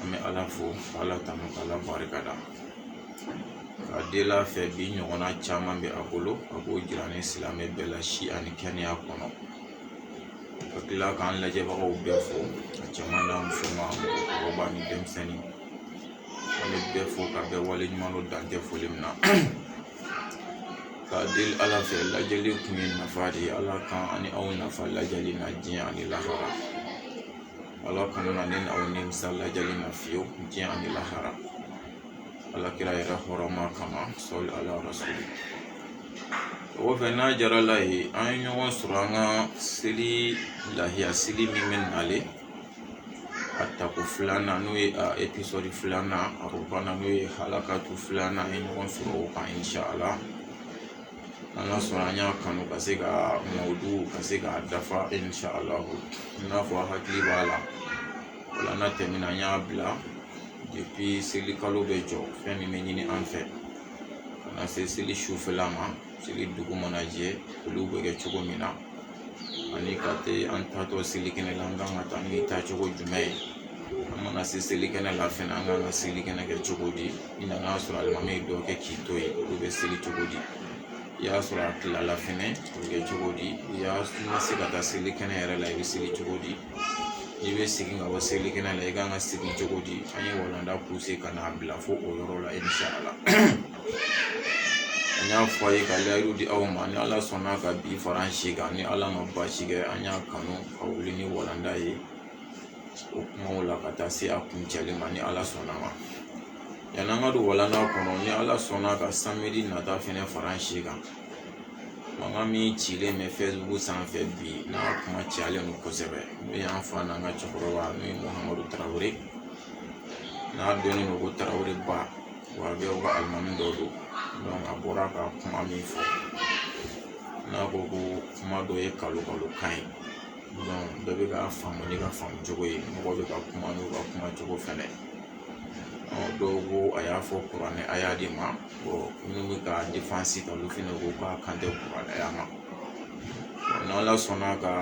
an bɛ ala fo ka ala tanu ka ala barika da k'a deli a fɛ bi ɲɔgɔnna caman bɛ a bolo a b'o jira ni silamɛ bɛɛ la si ani kɛnɛya kɔnɔ ka tila k'an lajɛbagaw bɛɛ fo a cɛman n'a musoman mɔgɔkɔrɔba ni denmisɛnnin an bɛ bɛɛ fo ka bɛɛ wale ɲuman dɔn dan tɛ foli min na k'a deli ala fɛ lajɛli kun ye nafa de ye ala k'an ani aw nafa lajɛli na diɲɛ ani lahara ala kana ne ni aw nimisa lajɛli na fiyewu diɲɛ ani lahara ala kira yɛrɛ hɔrɔma kama sɔli ala rasuli o kɔfɛ n'a jara ala ye an ye ɲɔgɔn sɔrɔ an ka seli lahiya seli min bɛ nale a tako filanan n'o ye a episɔdi filanan a ko banna n'o ye halakatu filanan an ye ɲɔgɔn sɔrɔ o kan insha ala an ka sɔrɔ an y'a kanu ka se ka mawudu ka se k'a dafa insha ala i n'a fɔ hakili b'a la walanda tɛmɛna an y'a bila depuis seli kalo bɛ jɔ fɛn min bɛ ɲini an fɛ ka na se seli sufɛla ma seli dugu mana jɛ olu bɛ kɛ cogo min na ani ka taa an taatɔ seli kɛnɛ la an kan ka taa ni taacogo jumɛn ye an mana se seli kɛnɛ la fɛnɛ an kan ka seli kɛnɛ kɛ cogo di i nan'a sɔrɔ alimami ye dɔ kɛ k'i to yen olu bɛ seli cogo di i y'a sɔrɔ a tilala fɛnɛ o bɛ kɛ cogo di i ma se ka taa seli kɛnɛ yɛrɛ la i bɛ seli cogo di i bɛ segin ka bɔ seli kɛnɛ la i kan ka segin cogo di an ye walanda pousser ka n'a bila fo o yɔrɔ la insha ala an y'a fɔ aw ye ka layidu di aw ma ni ala sɔnna ka bi fara an si kan ni ala ma baasi kɛ an y'a kanu ka wuli ni walanda ye o kumaw la ka taa se a kuncɛli ma ni ala sɔnna a ma yanni an ka don walanda kɔnɔ ni ala sɔnna ka samedi nata fɛnɛ fara an si kan mankan min cilen bɛ facebook sanfɛ bi n'a kuma cayalen don kosɛbɛ n'o y'an fa n'an ka cɛkɔrɔba n'o ye muhamadu tarawele n'a dɔnnen don ko tarawele ba wahabiw ka alimami dɔ don a bɔra ka kuma min fɔ n'a ko ko kuma dɔ ye kalo kalo kan ye bɛɛ bɛ k'a faamu n'i ka faamu cogo ye mɔgɔw bɛ ka kuma n'u ka kuma cogo fɛnɛ dɔw ko a y'a fɔ kuranɛ aya de ma minnu bɛ k'a défense ta olu fɛnɛ ko k'a kan tɛ kuranɛ aya ma n'ala sɔnna ka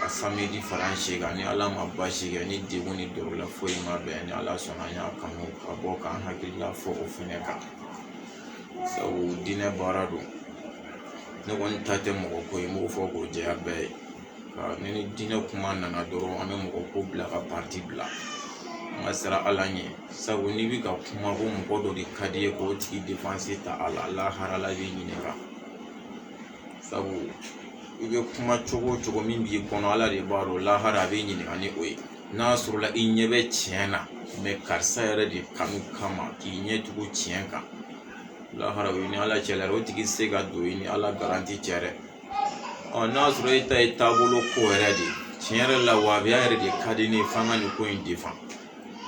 samedi fara an si kan ni ala ma baasi kɛ ni degun ni dɔrɔla foyi ma bɛn ni ala sɔnna an y'a kanu ka bɔ k'an hakilila fɔ o fɛnɛ kan sabu diinɛ baara don ne kɔni ta tɛ mɔgɔ ko ye n b'o fɔ k'o jɛya bɛɛ ye ni ni diinɛ kuma nana dɔrɔn an bɛ mɔgɔ ko bila ka parti bila an ka siran ala ɲɛ sabu n'i bɛ ka kuma ko mɔgɔ dɔ de ka di i ye k'o tigi défense ta ala lahara la b'i ɲininka sabu i bɛ kuma cogo o cogo min b'i kɔnɔ ala de b'a dɔn lahara a b'i ɲininka ni o ye n'a sɔrɔla i ɲɛ bɛ tiɲɛ na karisa yɛrɛ de kanu kama k'i ɲɛ tugu tiɲɛ kan lahara o ye ni ala cɛla o tigi se ka don i ni ala garanti cɛ dɛ ɔ n'a sɔrɔ e ta ye taabolo ko yɛrɛ de ye tiɲɛ yɛrɛ la wahabiya yɛrɛ de ka di ne ye f'an ka nin ko in defan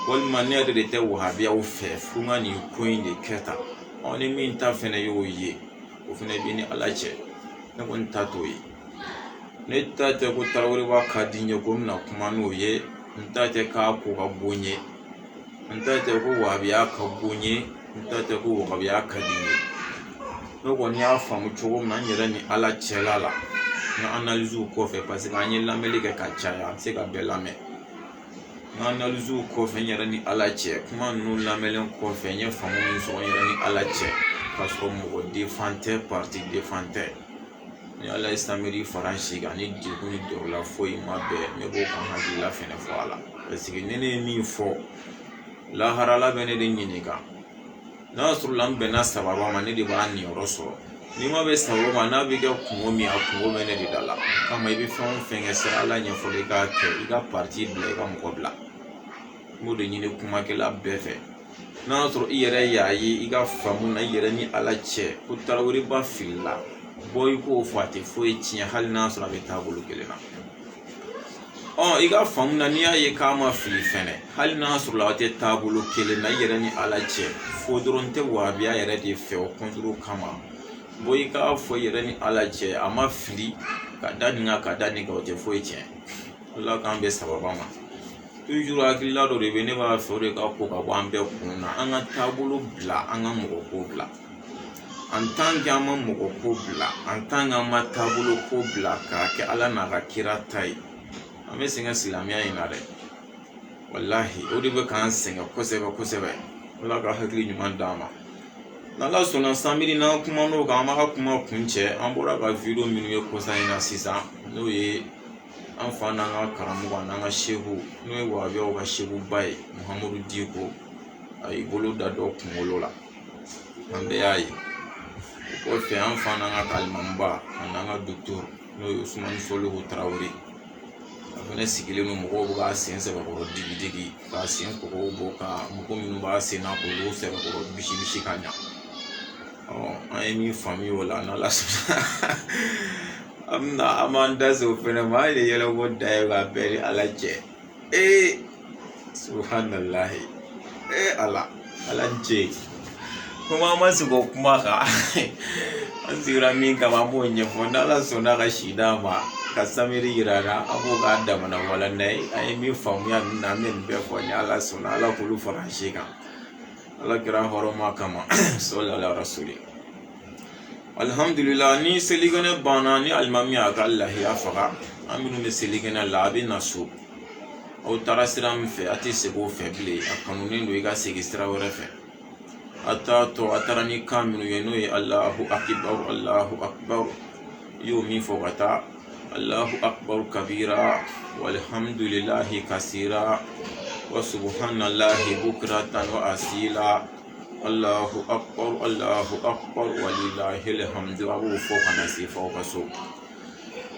walima ne yɛrɛ de tɛ wahabiyaw fɛ fo n ka nin ko in de kɛ tan ni min ta fɛnɛ y'o ye o fɛnɛ b'i ni ala cɛ ne kɔni ta t'o ye ne ta tɛ ko taraweleba ka di n ye ko n bɛna kuma n'o ye n ta tɛ k'a ko ka bon n ye n ta tɛ ko wahabiya ka bon n ye n ta tɛ ko wahabiya ka di n ye ne kɔni y'a faamu cogo min na n yɛrɛ ni ala cɛla la n ka analiziw kɔfɛ paseke an ye lamɛnni kɛ ka caya an tɛ se ka bɛɛ lamɛn n ka analiziw kɔfɛ n yɛrɛ ni ala cɛ kuma ninnu lamɛnlen kɔfɛ n ye faamu min sɔrɔ n yɛrɛ ni ala cɛ k'a sɔrɔ mɔgɔ defan tɛ pariti defan tɛ ni ala ye samedi fara an si kan ni degun ni dɔrɔla foyi ma bɛn ne b'o ka hakilila fɛnɛ fɔ a la paseke ni ne ye min fɔ lahara ala bɛ ne de ɲininka n'a sɔrɔla n bɛnna sababa ma ne de b'a niyɔrɔ sɔrɔ ni n ma bɛn sababa ma n'a bɛ kɛ kunko min a kunko bɛ ne de da la kama i bɛ fɛn o fɛn kɛ siran ala ɲɛ fɔlɔ i k'a kɛ i ka pariti bila i ka mɔgɔ bila n b'o de ɲini kumakɛla bɛɛ fɛ n'a sɔrɔ i yɛrɛ y'a ye i ka faamu na i yɛrɛ ni ala cɛ ko taraweleba filila bɔ i k'o fɔ a tɛ foyi tiɲɛ hali n'a sɔrɔ a bɛ taabolo kelen na ɔ i ka faamu na n'i y'a ye k'a ma fili fɛnɛ hali n'a sɔrɔla aw tɛ taabolo kelen na i yɛrɛ ni ala cɛ fɔ dɔrɔn n tɛ wabiya yɛrɛ de fɛ o kɔntoro kama bɔ i k'a fɔ i yɛrɛ ni ala cɛ a ma fili ka da nin kan ka da nin kan o tɛ foyi tiɲɛ ala k'an bɛn sababa ma tujuru hakilila dɔ de bɛ ne b'a fɛ o de ka ko ka bɔ an bɛɛ kun na an ka taabolo bila an ka mɔgɔ ko bila an tan kɛ an ma mɔgɔ ko bila an tan k'an ma taabolo ko bila k'a kɛ ala n'a ka kira ta ye an bɛ sɛgɛn silamɛya in na dɛ walahi o de bɛ k'an sɛgɛn kosɛbɛ kosɛbɛ ala ka hakili ɲuman d'an ma n'ala sɔnna samedi n'an kumana o kan an b'a ka kuma kuncɛ an bɔra ka wideyo minnu ye kɔsa in na sisan n'o ye an fa n'an ka karamɔgɔ n'an ka seku n'o ye wabiyaw ka sekuba ye muhamadu diko a y'i bolo da dɔ kunkolo la an bɛɛ y'a ye o kɔfɛ an fa n'an ka alimamiba ani n'an ka dukturu n'o ye usumani solihu tarawele ye a fɛnɛ sigilen don mɔgɔw bɛ k'a sen sɛbɛkɔrɔ digi digi k'a sen kɔgɔw bɔ ka mɔgɔ minnu b'a sen na k'olu sɛbɛkɔrɔ bisi bisi ka ɲa an ye min faamuya o la n'ala sɔnna an bɛna an b'an da se o fɛnɛ ma an ye yɛlɛko da ye k'a bɛɛ ni ala cɛ ee subhanallah ee ala ala n cɛ kuma ma se ko kuma kan an sigira min kama an b'o ɲɛfɔ n'ala sɔnna ka si d'an ma ka samedi yira an na an b'o k'a damana walanda ye an ye min faamuya nin na an bɛ nin bɛɛ fɔ ni ala sɔnna ala k'olu fara an si kan ala kira hɔrɔma kama sɔlu ala rasuli alihamdulila ni selikɛnɛ banna ni alimami y'a ka lahiya faga an minnu bɛ selikɛnɛ la a bɛ na so aw taara sira min fɛ a tɛ segin o fɛ bilen a kanunen don i ka segin sira wɛrɛ fɛ a taatɔ a taara ni kan minnu ye n'o ye alahu akibaru alahu akibaru i y'o min fɔ ka taa alahu akibaru kabira walihamdulilahi kasira wa subuhanalahi bukiratan wa asila Allahu akbar Allahu akbar walilahil hamdu a b'o fɔ ka na se fo aw ka so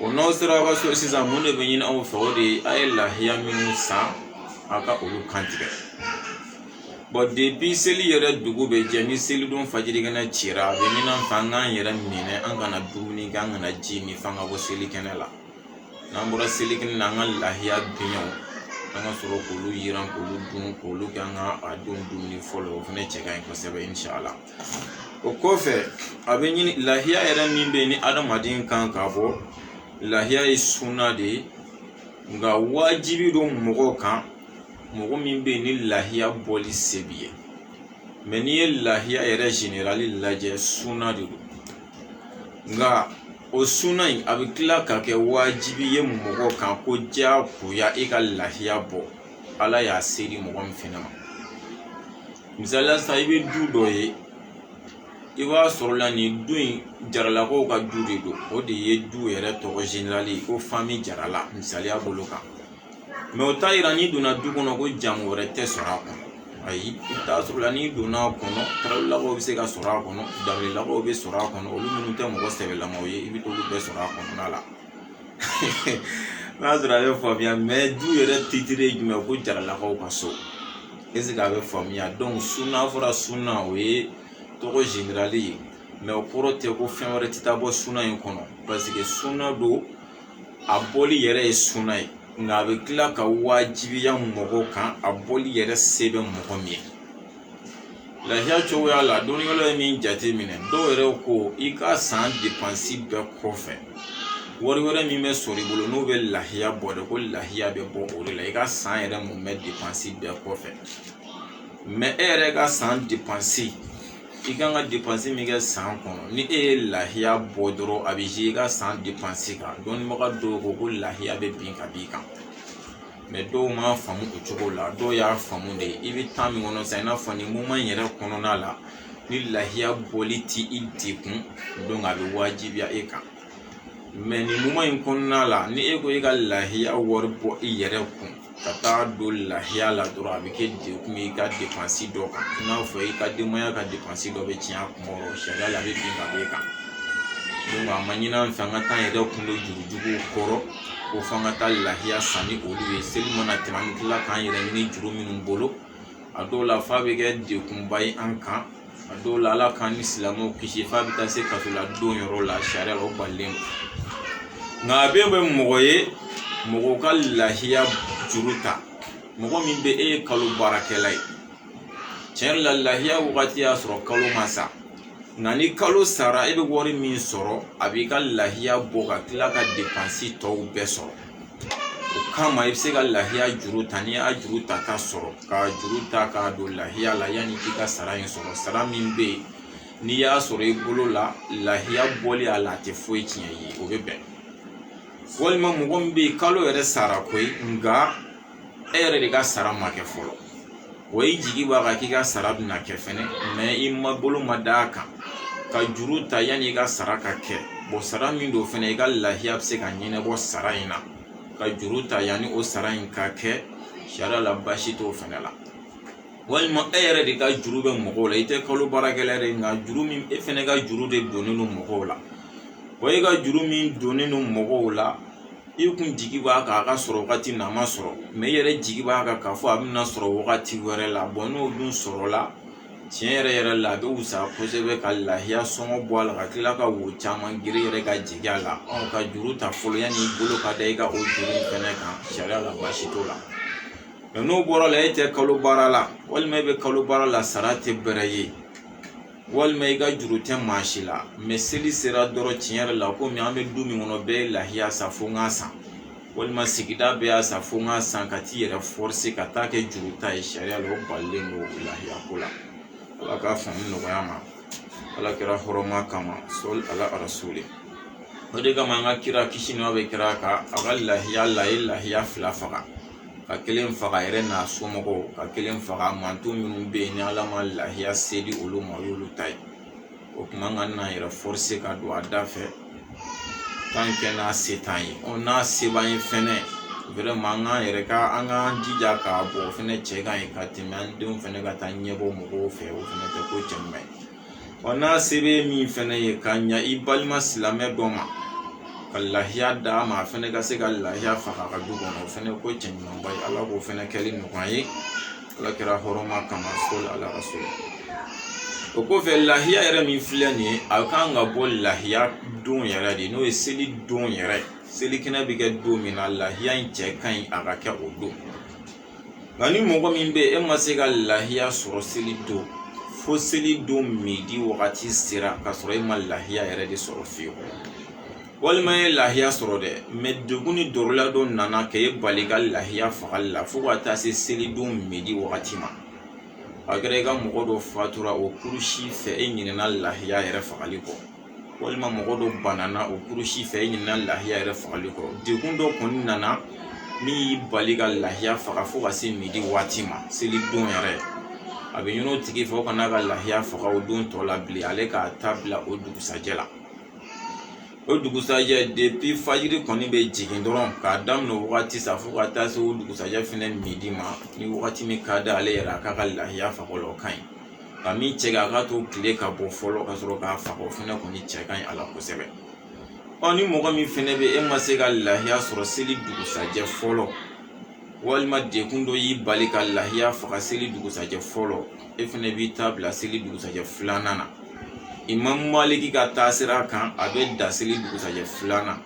o n'aw sera aw ka so sisan mun de bɛ ɲini aw fɛ o de ye a ye lahiya minnu san a ka olu kantigɛ bon depi seli yɛrɛ dugu bɛ jɛ ni selidon fajirikɛnɛ cira a bɛ ɲini an fɛ an k'an yɛrɛ minɛ an kana dumuni kɛ an kana ji min f'an ka bɔ selikɛnɛ la n'an bɔra selikɛnɛ na an ka lahiya biɲɛw an ka sɔrɔ k'olu yiran k'olu dun k'olu kɛ an ka a don dumuni fɔlɔ o fana cɛ ka ɲi kosɛbɛ inshallah o kɔfɛ a bɛ ɲini lahiya yɛrɛ min bɛ yen ni adamaden kan ka bɔ lahiya ye suna de ye nka wajibi don mɔgɔw kan mɔgɔ min bɛ yen ni lahiya bɔli se b'i ye mɛ n'i ye lahiya yɛrɛ zenerali lajɛ suna de don nka o suna in a bɛ tila ka kɛ wajibi ye mɔgɔ kan ko diyagoya e ka lahiya bɔ ala y'a se di mɔgɔ min fana ma misaliya sa i bɛ du dɔ ye i b'a sɔrɔ la nin du in jaralakaw ka du de don o de ye du yɛrɛ tɔgɔ zenerali ko fami jarala misaliya bolo kan mɛ o t'a yira n'i donna du kɔnɔ ko jamu wɛrɛ tɛ sɔrɔ a kɔnɔ ayi i bɛ t'a sɔrɔ la n'i donna a kɔnɔ tarawelelakaw bɛ se ka sɔrɔ a kɔnɔ danbelelakaw bɛ sɔrɔ a kɔnɔ olu minnu tɛ mɔgɔ sɛbɛlamaw ye i bɛ t'olu bɛɛ sɔrɔ a kɔnɔna la n'a sɔrɔ a bɛ faamuya mɛ du yɛrɛ titire ye jumɛn ko jaralakaw ka so esike a bɛ faamuya dɔnki suna fɔra suna o ye tɔgɔ zenerali ye mɛ o kɔrɔ tɛ ko fɛn wɛrɛ tɛ taa bɔ suna in kɔnɔ paseke suna don a bɔli yɛrɛ ye suna ye nka a bɛ tila ka wajibiya mɔgɔw kan a bɔli yɛrɛ se bɛ mɔgɔ min ye lahiya cogoya la dɔnnikɛlaw ye min jate minɛ dɔw yɛrɛ ko i ka san depansi bɛɛ kɔfɛ wari wɛrɛ min bɛ sɔrɔ i bolo n'o bɛ lahiya bɔ de ko lahiya bɛ bɔ o de la i ka san yɛrɛ mumɛ depansi bɛɛ kɔfɛ mɛ e yɛrɛ ka san depansi i kan ka depansi min kɛ san kɔnɔ ni e ye lahiya bɔ dɔrɔn a bɛ i ka san depansi kan dɔnnibaga dɔw ko ko lahiya bɛ bin ka b'i kan mɛ dɔw m'a faamu o cogo la dɔw y'a faamu de i bɛ tan min kɔnɔ sisan i n'a fɔ nin moman yɛrɛ kɔnɔna la ni lahiya bɔli t'i degun dɔnki a bɛ wajibiya e kan nin moman in kɔnɔna la ni e ko e ka lahiya wari bɔ i yɛrɛ kun ka taa don lahiya la dɔrɔn a bɛ kɛ degun ye i ka depansi dɔ kan i n'a fɔ i ka denbaya ka depansi dɔ bɛ tiɲɛ a kunkɔrɔ sariya la a bɛ bin ka b'e kan dɔnki a ma ɲini an fɛ an ka t'an yɛrɛ kun don juru juguw kɔrɔ ko f'an ka taa lahiya san ni olu ye seli mana tɛmɛ an bɛ tila k'an yɛrɛ ɲini juru minnu bolo a dɔw la f'a bɛ kɛ degunba ye an kan a dɔw la ala k'an ni silamɛw kisi f'a bɛ taa se kaso la don yɔrɔ la sariya la o balilen don nka a bɛ bɛn mɔgɔ ye mɔgɔ ka lahiya juru ta mɔgɔ min bɛ e ye kalo baarakɛla ye tiɲɛ yɛrɛ la lahiya wagati y'a sɔrɔ kalo ma sa nka ni kalo sara e bɛ wari min sɔrɔ a b'i ka lahiya bɔ ka tila ka depansi tɔw bɛɛ sɔrɔ o kama i bɛ se ka lahiya juru ta n'i y'a juru ta k'a sɔrɔ ka juru ta k'a don lahiya la yanni k'i ka sara in sɔrɔ sara min bɛ yen n'i y'a sɔrɔ i bolo la lahiya bɔli a la a tɛ foyi tiɲɛ i ye o bɛ bɛn walima mɔgɔ min bɛ yen kalo yɛrɛ sara koyi nka e yɛrɛ de ka sara ma kɛ fɔlɔ o i jigi b'a kan k'i ka sara bɛna kɛ fɛnɛ mɛ i ma bolo ma da a kan ka juru ta yanni i ka sara ka kɛ bɔn sara min don fɛnɛ i ka lahiya bɛ se ka ɲɛnabɔ sara in na ka juru ta yanni o sara in ka kɛ sariya la baasi t'o fɛnɛ la walima e yɛrɛ de ka juru bɛ mɔgɔw la i tɛ kalo baarakɛla ye dɛ nka juru min e fɛnɛ ka juru de donnen don mɔgɔw la wa e ka juru min donnen don mɔgɔw la i kun jigi b'a kan a ka sɔrɔ wagati min na a ma sɔrɔ mɛ i yɛrɛ jigi b'a kan k'a fɔ a bɛna sɔrɔ wagati wɛrɛ la bɔn n'o dun sɔrɔla tiɲɛ yɛrɛ yɛrɛ la a bɛ wusaya kosɛbɛ ka lahiya sɔngɔ bɔ a la ka tila ka wo caman geren yɛrɛ ka jigi a la ka juru ta fɔlɔ yanni i bolo ka da i ka o juru in fɛnɛ kan sariya la baasi t'o la n'o bɔra la e tɛ kalo baara la walima e bɛ kalo baara la sara tɛ bɛrɛ ye walima i ka juru tɛ maa si la mɛ seli sera dɔrɔn tiɲɛ yɛrɛ la komi an bɛ du min kɔnɔ bɛɛ ye lahiya san fo n k'a san walima sigida bɛɛ y'a san fo n k'a san ka t'i yɛrɛ fɔrise ka taa kɛ juru ta ye sariya la o balilen don lahiya ko la ala k'a faamu nɔgɔya an ma ala kira hɔrɔma kama sɔli ala rasuli o de kama an ka kira kisi ni nɛɛma bɛ kira kan a ka lahiya la a ye lahiya fila faga ka kelen faga a yɛrɛ n'a somɔgɔw ka kelen faga manton minnu bɛ yen ni ala ma lahiya se di olu ma o y'olu ta ye o kuma an kan'an yɛrɛ forcer ka don a da fɛ tant que n'a se t'an ye n'a se b'an ye fɛnɛ vraiment an k'an yɛrɛ ka an k'an jija k'a bɔ o fɛnɛ cɛ ka ɲi ka tɛmɛ an denw fɛnɛ ka taa ɲɛbɔ mɔgɔw fɛ o fɛnɛ tɛ ko cɛɲuman ye wa n'a se bɛ min fɛnɛ ye ka ɲa i balima silamɛ dɔ ma ka lahiya d'a ma a fɛnɛ ka se ka lahiya faga a ka du kɔnɔ o fɛnɛ ko cɛɲumanba ye ala k'o fɛnɛ kɛli nɔgɔya an ye ala kira hɔrɔma kama sɔli ala rasuli o kɔfɛ lahiya yɛrɛ min filɛ nin ye a kan ka bɔ lahiya don yɛrɛ de n'o ye seli don yɛrɛ ye selikɛnɛ bɛ kɛ don min na lahiya in cɛ ka ɲi a ka kɛ o don nka ni mɔgɔ min bɛ e ma se ka lahiya sɔrɔ seli don fo seli don midi wagati sera k'a sɔrɔ e ma lahiya yɛrɛ de sɔrɔ fiyewu walima i ye lahiya sɔrɔ dɛ mais degun ni dɔrɔla dɔ nana k'e bali ka lahiya fagali la fo ka taa se selidon midi wagati ma a kɛra i ka mɔgɔ dɔ fatura o kurusi fɛ e ɲinɛna lahiya yɛrɛ fagali kɔ walima mɔgɔ dɔ banana o kurusi fɛ i ɲinɛna lahiya yɛrɛ fagali kɔ degun dɔ kɔni nana min y'i bali ka lahiya faga fo ka se midi waati ma seli don yɛrɛ a bɛ ɲini o tigi fɛ o kan'a ka lahiya faga o don tɔ la bilen ale k'a ta bila o dugusajɛ la o dugusajɛ depuis fajiri kɔni bɛ jigin dɔrɔn k'a daminɛ o wagati sa fo ka taa se o dugusajɛ fɛnɛ midi ma ni wagati min ka d'ale yɛrɛ a k'a ka lahiya faga o la o ka ɲi nka min cɛ ka a k'a to kile ka bɔ fɔlɔ ka sɔrɔ k'a faga o fɛnɛ kɔni cɛ ka ɲi a la kosɛbɛ ɔ ni mɔgɔ min fɛnɛ bɛ e ma se ka lahiya sɔrɔ seli dugusajɛ fɔlɔ walima degun dɔ y'i bali ka lahiya faga seli dugusajɛ fɔlɔ e fɛnɛ b'i ta bila seli dugusajɛ filanan na imam maliki ka taasira kan a bɛ dan seli dugusajɛ filanan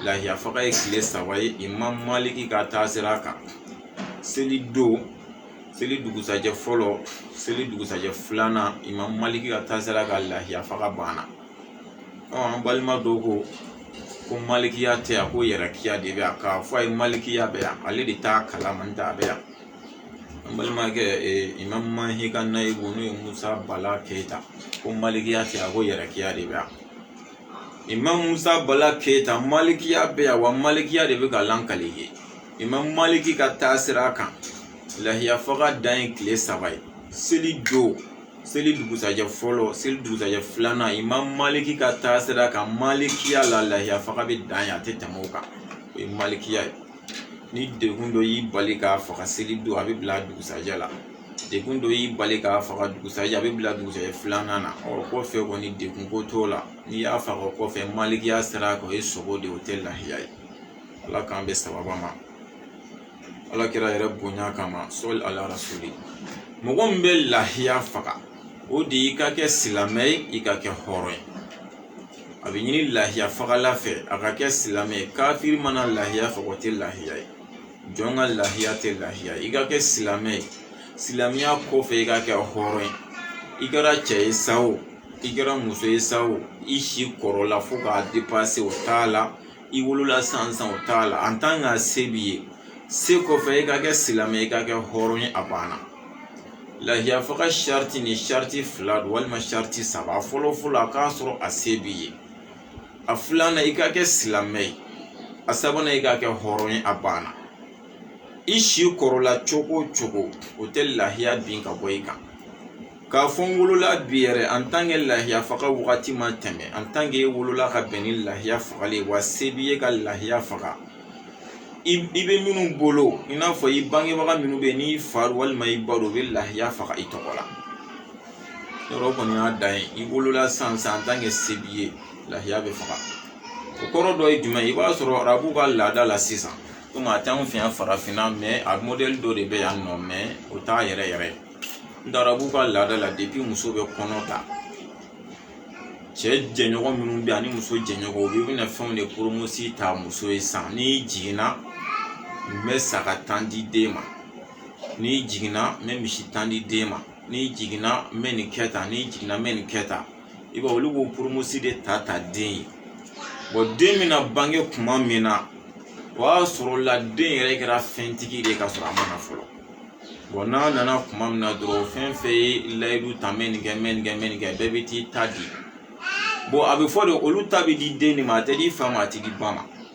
lahiya faga ye kile saba ye imam maliki ka taasira kan seli don seli dugusajɛ fɔlɔ seli dugusajɛ filanan imam maliki ka taasira kan lahiya faga banna an balima dɔ ko ko malikiya tɛ yan ko yɛrɛkiya de bɛ yan k'a fɔ a ye malikiya bɛ yan ale de t'a kalama n'o tɛ a bɛ yan an balimakɛ imam mahi ka nayibu n'o ye musa bala keyita ko malikiya tɛ yan ko yɛrɛkiya de bɛ yan imam musa bala keyita malikiya bɛ yan wa malikiya de bɛ ka lankali kɛ imam maliki ka taasira kan lahiya faga dan ye kile saba ye seli don seli dugusajɛ fɔlɔ seli dugusajɛ filanan imam maliki ka taasira kan malikiya la lahiya faga bɛ dan yen a tɛ tɛmɛ o kan o ye malikiya ye ni degun dɔ y'i bali k'a faga seli don a bɛ bila dugusajɛ la degun dɔ y'i bali k'a faga dugusajɛ a bɛ bila dugusajɛ filanan na o kɔfɛ kɔni degun ko t'o la n'i y'a faga o kɔfɛ malikiya sira kan o ye sogo de ye o tɛ lahiya ye ala k'an bɛn sawaba ma ala kira yɛrɛ bonya kama sɔli ala rasuli mɔgɔ min bɛ lahiya faga o de y'i ka kɛ silamɛ ye i ka kɛ hɔrɔn ye a bɛ ɲini lahiya fagala fɛ a ka kɛ silamɛ ye kafiri mana lahiya faga o tɛ lahiya ye jɔn ka lahiya tɛ lahiya i ka kɛ silamɛ ye silamɛya kɔfɛ i ka kɛ hɔrɔn ye i kɛra cɛ ye sa o i kɛra muso ye sa o i si kɔrɔla fo k'a depase o t'a la i wolola sansan o t'a la en tant que se b'i ye se kɔfɛ i ka kɛ silamɛ i ka kɛ hɔrɔn ye a banna lahiya faga sariti ni sariti fila don walima sariti saba fɔlɔ fɔlɔ a k'a sɔrɔ a se b'i ye a filanan i ka kɛ silamɛ ye a sabanan i ka kɛ hɔrɔn ye a banna i si kɔrɔla cogo o cogo o tɛ lahiya bin ka bɔ i kan k'a fɔ n wolola bi yɛrɛ en tant que lahiya faga wagati ma tɛmɛ en tant que e wolola ka bɛn ni lahiya fagali ye wa se b'i ye ka lahiya faga i bɛ minnu bolo i n'a fɔ i bangebaga minnu bɛ yen n'i fa walima i ba don u bɛ lahiya faga i tɔgɔ la yɔrɔ kɔni y'a dan ye i wolola sansan en tant que se b'i ye lahiya bɛ faga o kɔrɔ dɔ ye jumɛn ye i b'a sɔrɔ arabu ka laada la sisan komi a t'anw fɛ yan farafinna mais a mɔdɛli dɔ de bɛ yan nɔ mais o t'a yɛrɛ yɛrɛ ye nka arabu ka laada la depuis muso bɛ kɔnɔ ta cɛ jɛɲɔgɔn minnu bɛ yan ani muso jɛɲɔgɔn u bɛɛ bɛna fɛnw de poromosi ta muso ye san n'i jiginna n bɛ saga tan di den ma n'i jiginna n bɛ misi tan di den ma n'i jiginna n bɛ nin kɛ tan n'i jiginna n bɛ nin kɛ tan i b'a ye olu b'o poromosi de ta den ye bon den bɛna bange kuma min na o y'a sɔrɔ la den yɛrɛ kɛra fɛntigi de ye ka sɔrɔ a ma na fɔlɔ bon n'a nana kuma min na dɔrɔn fɛn fɛn ye layidu ta n bɛ nin kɛ n bɛ nin kɛ n bɛ nin kɛ bɛɛ bɛ t'i ta di bon a bɛ fɔ de olu ta bɛ di den de ma a tɛ di fa ma a tɛ di ba ma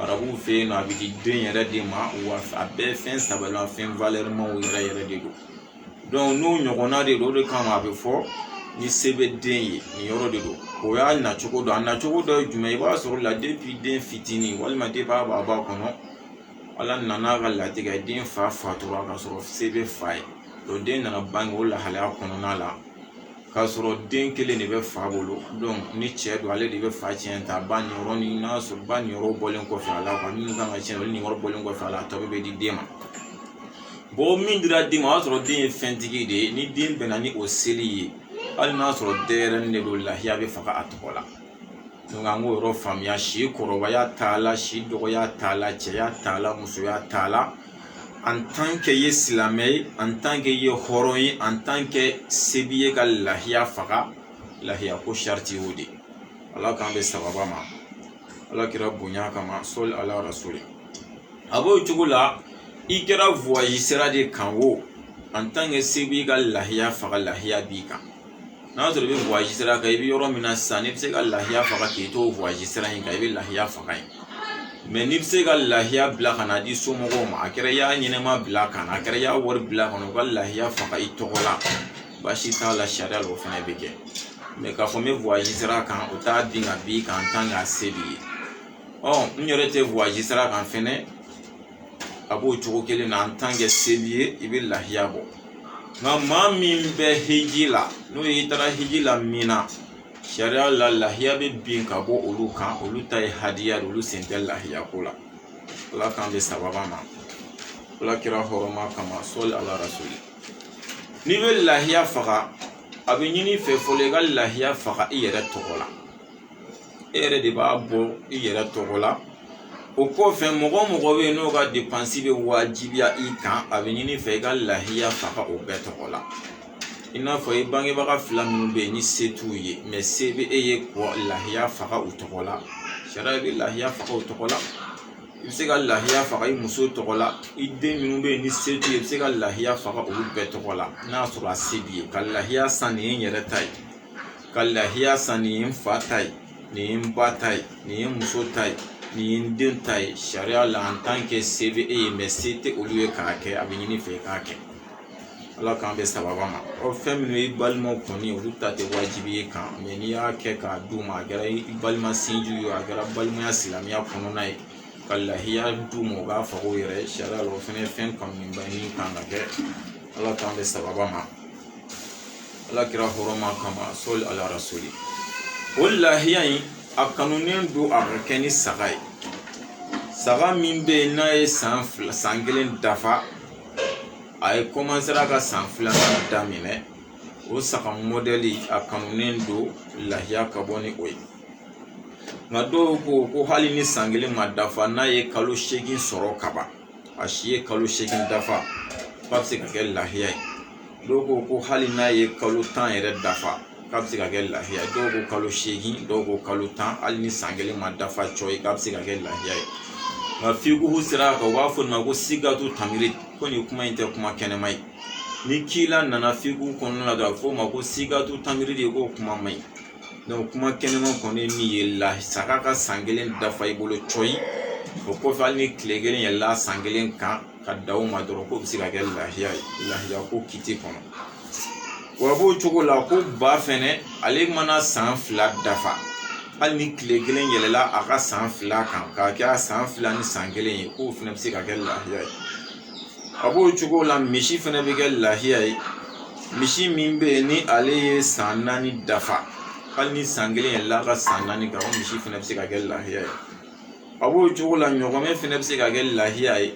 arabuw fɛ yen nɔ a bɛ di den yɛrɛ de ma wa a bɛɛ fɛn saba la fɛn valɛrimaw yɛrɛ yɛrɛ de don donc n'o ɲɔgɔnna de don o de kama a bɛ fɔ ni se bɛ den ye nin yɔrɔ de don o y'a nacogo dɔ a nacogo dɔ ye jumɛn ye i b'a sɔrɔ la depuis den fitinin walima depuis a b'a ba kɔnɔ ala nana k'a latigɛ den fa fatura ka sɔrɔ se bɛ fa ye donc den nana bange o lahalaya kɔnɔna la k'a sɔrɔ den kelen de bɛ fa bolo donc ni cɛ don ale de bɛ fa cɛn ta ba niyɔrɔ ni n'a sɔrɔ ba niyɔrɔ bɔlen kɔfɛ a la minnu kan ka cɛn olu niyɔrɔ bɔlen kɔfɛ a la a tɔ bɛ di den ma bon min dira den ma o y'a sɔrɔ den ye fɛntigi de ye ni den bɛnna ni o seli ye hali n'a sɔrɔ denyɛrɛnin de don lahiya bɛ faga a tɔgɔ la Donc an k'o yɔrɔ faamuya si kɔrɔbaya t'a la si dɔgɔya t'a la cɛya t'a la musoya t'a la en tant que ye silamɛ ye en tant que ye hɔrɔn ye en tant que se b'i ye ka lahiya faga lahiya ko sariti y'o de ye ala k'an bɛɛ sababa ma ala kira bonya kama sɔli ala rasuli a b'o cogo la i kɛra voyage sira de kan o en tant que se b'i ye ka lahiya faga lahiya b'i kan n'a sɔrɔ i bɛ voyage sira kan i bɛ yɔrɔ min na sisan n'i bɛ se ka lahiya faga k'i to voyage sira in kan i bɛ lahiya faga yen mais n'i bɛ se ka lahiya bila ka n'a di somɔgɔw ma a kɛra i y'a ɲɛnɛma bila ka na a kɛra i y'a wari bila ka na u ka lahiya faga i tɔgɔ la baasi t'a la sariya la o fana bɛ kɛ mais k'a fɔ n bɛ voyage sira kan o t'a bin ka b'i kan en tant que a se b'i ye ɔ n yɛrɛ tɛ voyage sira kan fɛnɛ a b'o cogo kelen na en tant que se b'i ye i bɛ lahiya bɔ nka maa min bɛ hiji la n'o y'i taara hiji la min na sariya la lahiya bɛ bin ka bɔ olu kan olu ta ye hadiya de olu sen tɛ lahiya ko la ala k'an bɛɛ sababa ma ala kira hɔrɔma kama sɔli ala rasuli n'i bɛ lahiya faga a bɛ ɲini i fɛ fɔlɔ i ka lahiya faga i yɛrɛ tɔgɔ la e yɛrɛ de b'a bɔ i yɛrɛ tɔgɔ la o kɔfɛ mɔgɔ o mɔgɔ bɛ yen n'o ka depansi bɛ wajibiya i kan a bɛ ɲini i fɛ i ka lahiya faga o bɛɛ tɔgɔ la i n'a fɔ i bangebaga fila minnu bɛ yen ni se t'u ye mais se bɛ e ye ka lahiya faga u tɔgɔ la sariya bɛ lahiya faga u tɔgɔ la i bɛ se ka lahiya faga i muso tɔgɔ la i den minnu bɛ yen ni se t'u ye i bɛ se ka lahiya faga olu bɛɛ tɔgɔ la n'a sɔrɔ a se b'i ye ka lahiya san nin ye n yɛrɛ ta ye ka lahiya san nin ye n fa ta ye nin ye n ba ta ye nin ye n muso ta ye nin ye n den ta ye sariya la en tant que se bɛ e ye mais se tɛ olu ye k'a kɛ a bɛ ɲini i fɛ i k'a kɛ ala k'an bɛɛ sababa ma ɔ fɛn minnu ye i balimaw kɔni olu ta tɛ wajibi ye i kan mais n'i y'a kɛ k'a d'u ma a kɛra i balima sinji ye a kɛra balimaya silamɛya kɔnɔna ye ka lahiya d'u ma u k'a faga u yɛrɛ sariya la o fana ye fɛn kanuba ye min kan ka kɛ ala k'an bɛɛ sababa ma ala kira hɔrɔma kama sɔli ala rasuli o lahiya in a kanunen don a ka kɛ ni saga ye saga min bɛ yen n'a ye san kelen dafa a ye kɔmansera ka san filanan daminɛ o saga mɔdɛli a kanunen don lahiya ka bɔ ni o ye nka dɔw ko ko hali ni san kelen ma dafa n'a ye kalo seegin sɔrɔ kaban a si ye kalo seegin dafa k'a bɛ se ka kɛ lahiya ye dɔw ko ko hali n'a ye kalo tan yɛrɛ dafa k'a bɛ se ka kɛ lahiya ye dɔw ko kalo seegin dɔw ko kalo tan hali ni san kelen ma dafa cɔyi k'a bɛ se ka kɛ lahiya ye nka fikuhu sira kan u b'a fɔ nin ma ko sigatu tamiri ko nin kuma in tɛ kuma kɛnɛma ye ni kila nana fikuhu kɔnɔna la dɔrɔn a bɛ fɔ o ma ko sigatu tamiri de ko kuma man ɲi kuma kɛnɛma kɔni min ye saga ka san kelen dafa i bolo cɔyi o kɔfɛ hali ni kile kelen yɛlɛla san kelen kan ka da o ma dɔrɔn k'o bɛ se ka kɛ lahiya ye lahiya ko kiti kɔnɔ wa b'o cogo la ko ba fɛnɛ ale mana san fila dafa hali ni kile kelen yɛlɛla a ka san fila kan k'a kɛ a san fila ni san kelen ye k'o fɛnɛ bɛ se ka kɛ lahiya ye a b'o cogo la misi fɛnɛ bɛ kɛ lahiya ye misi min bɛ yen ni ale ye san naani dafa hali ni san kelen yɛlɛla a ka san naani kan o misi fɛnɛ bɛ se ka kɛ lahiya ye a b'o cogo la ɲɔgɔmɛ fɛnɛ bɛ se ka kɛ lahiya ye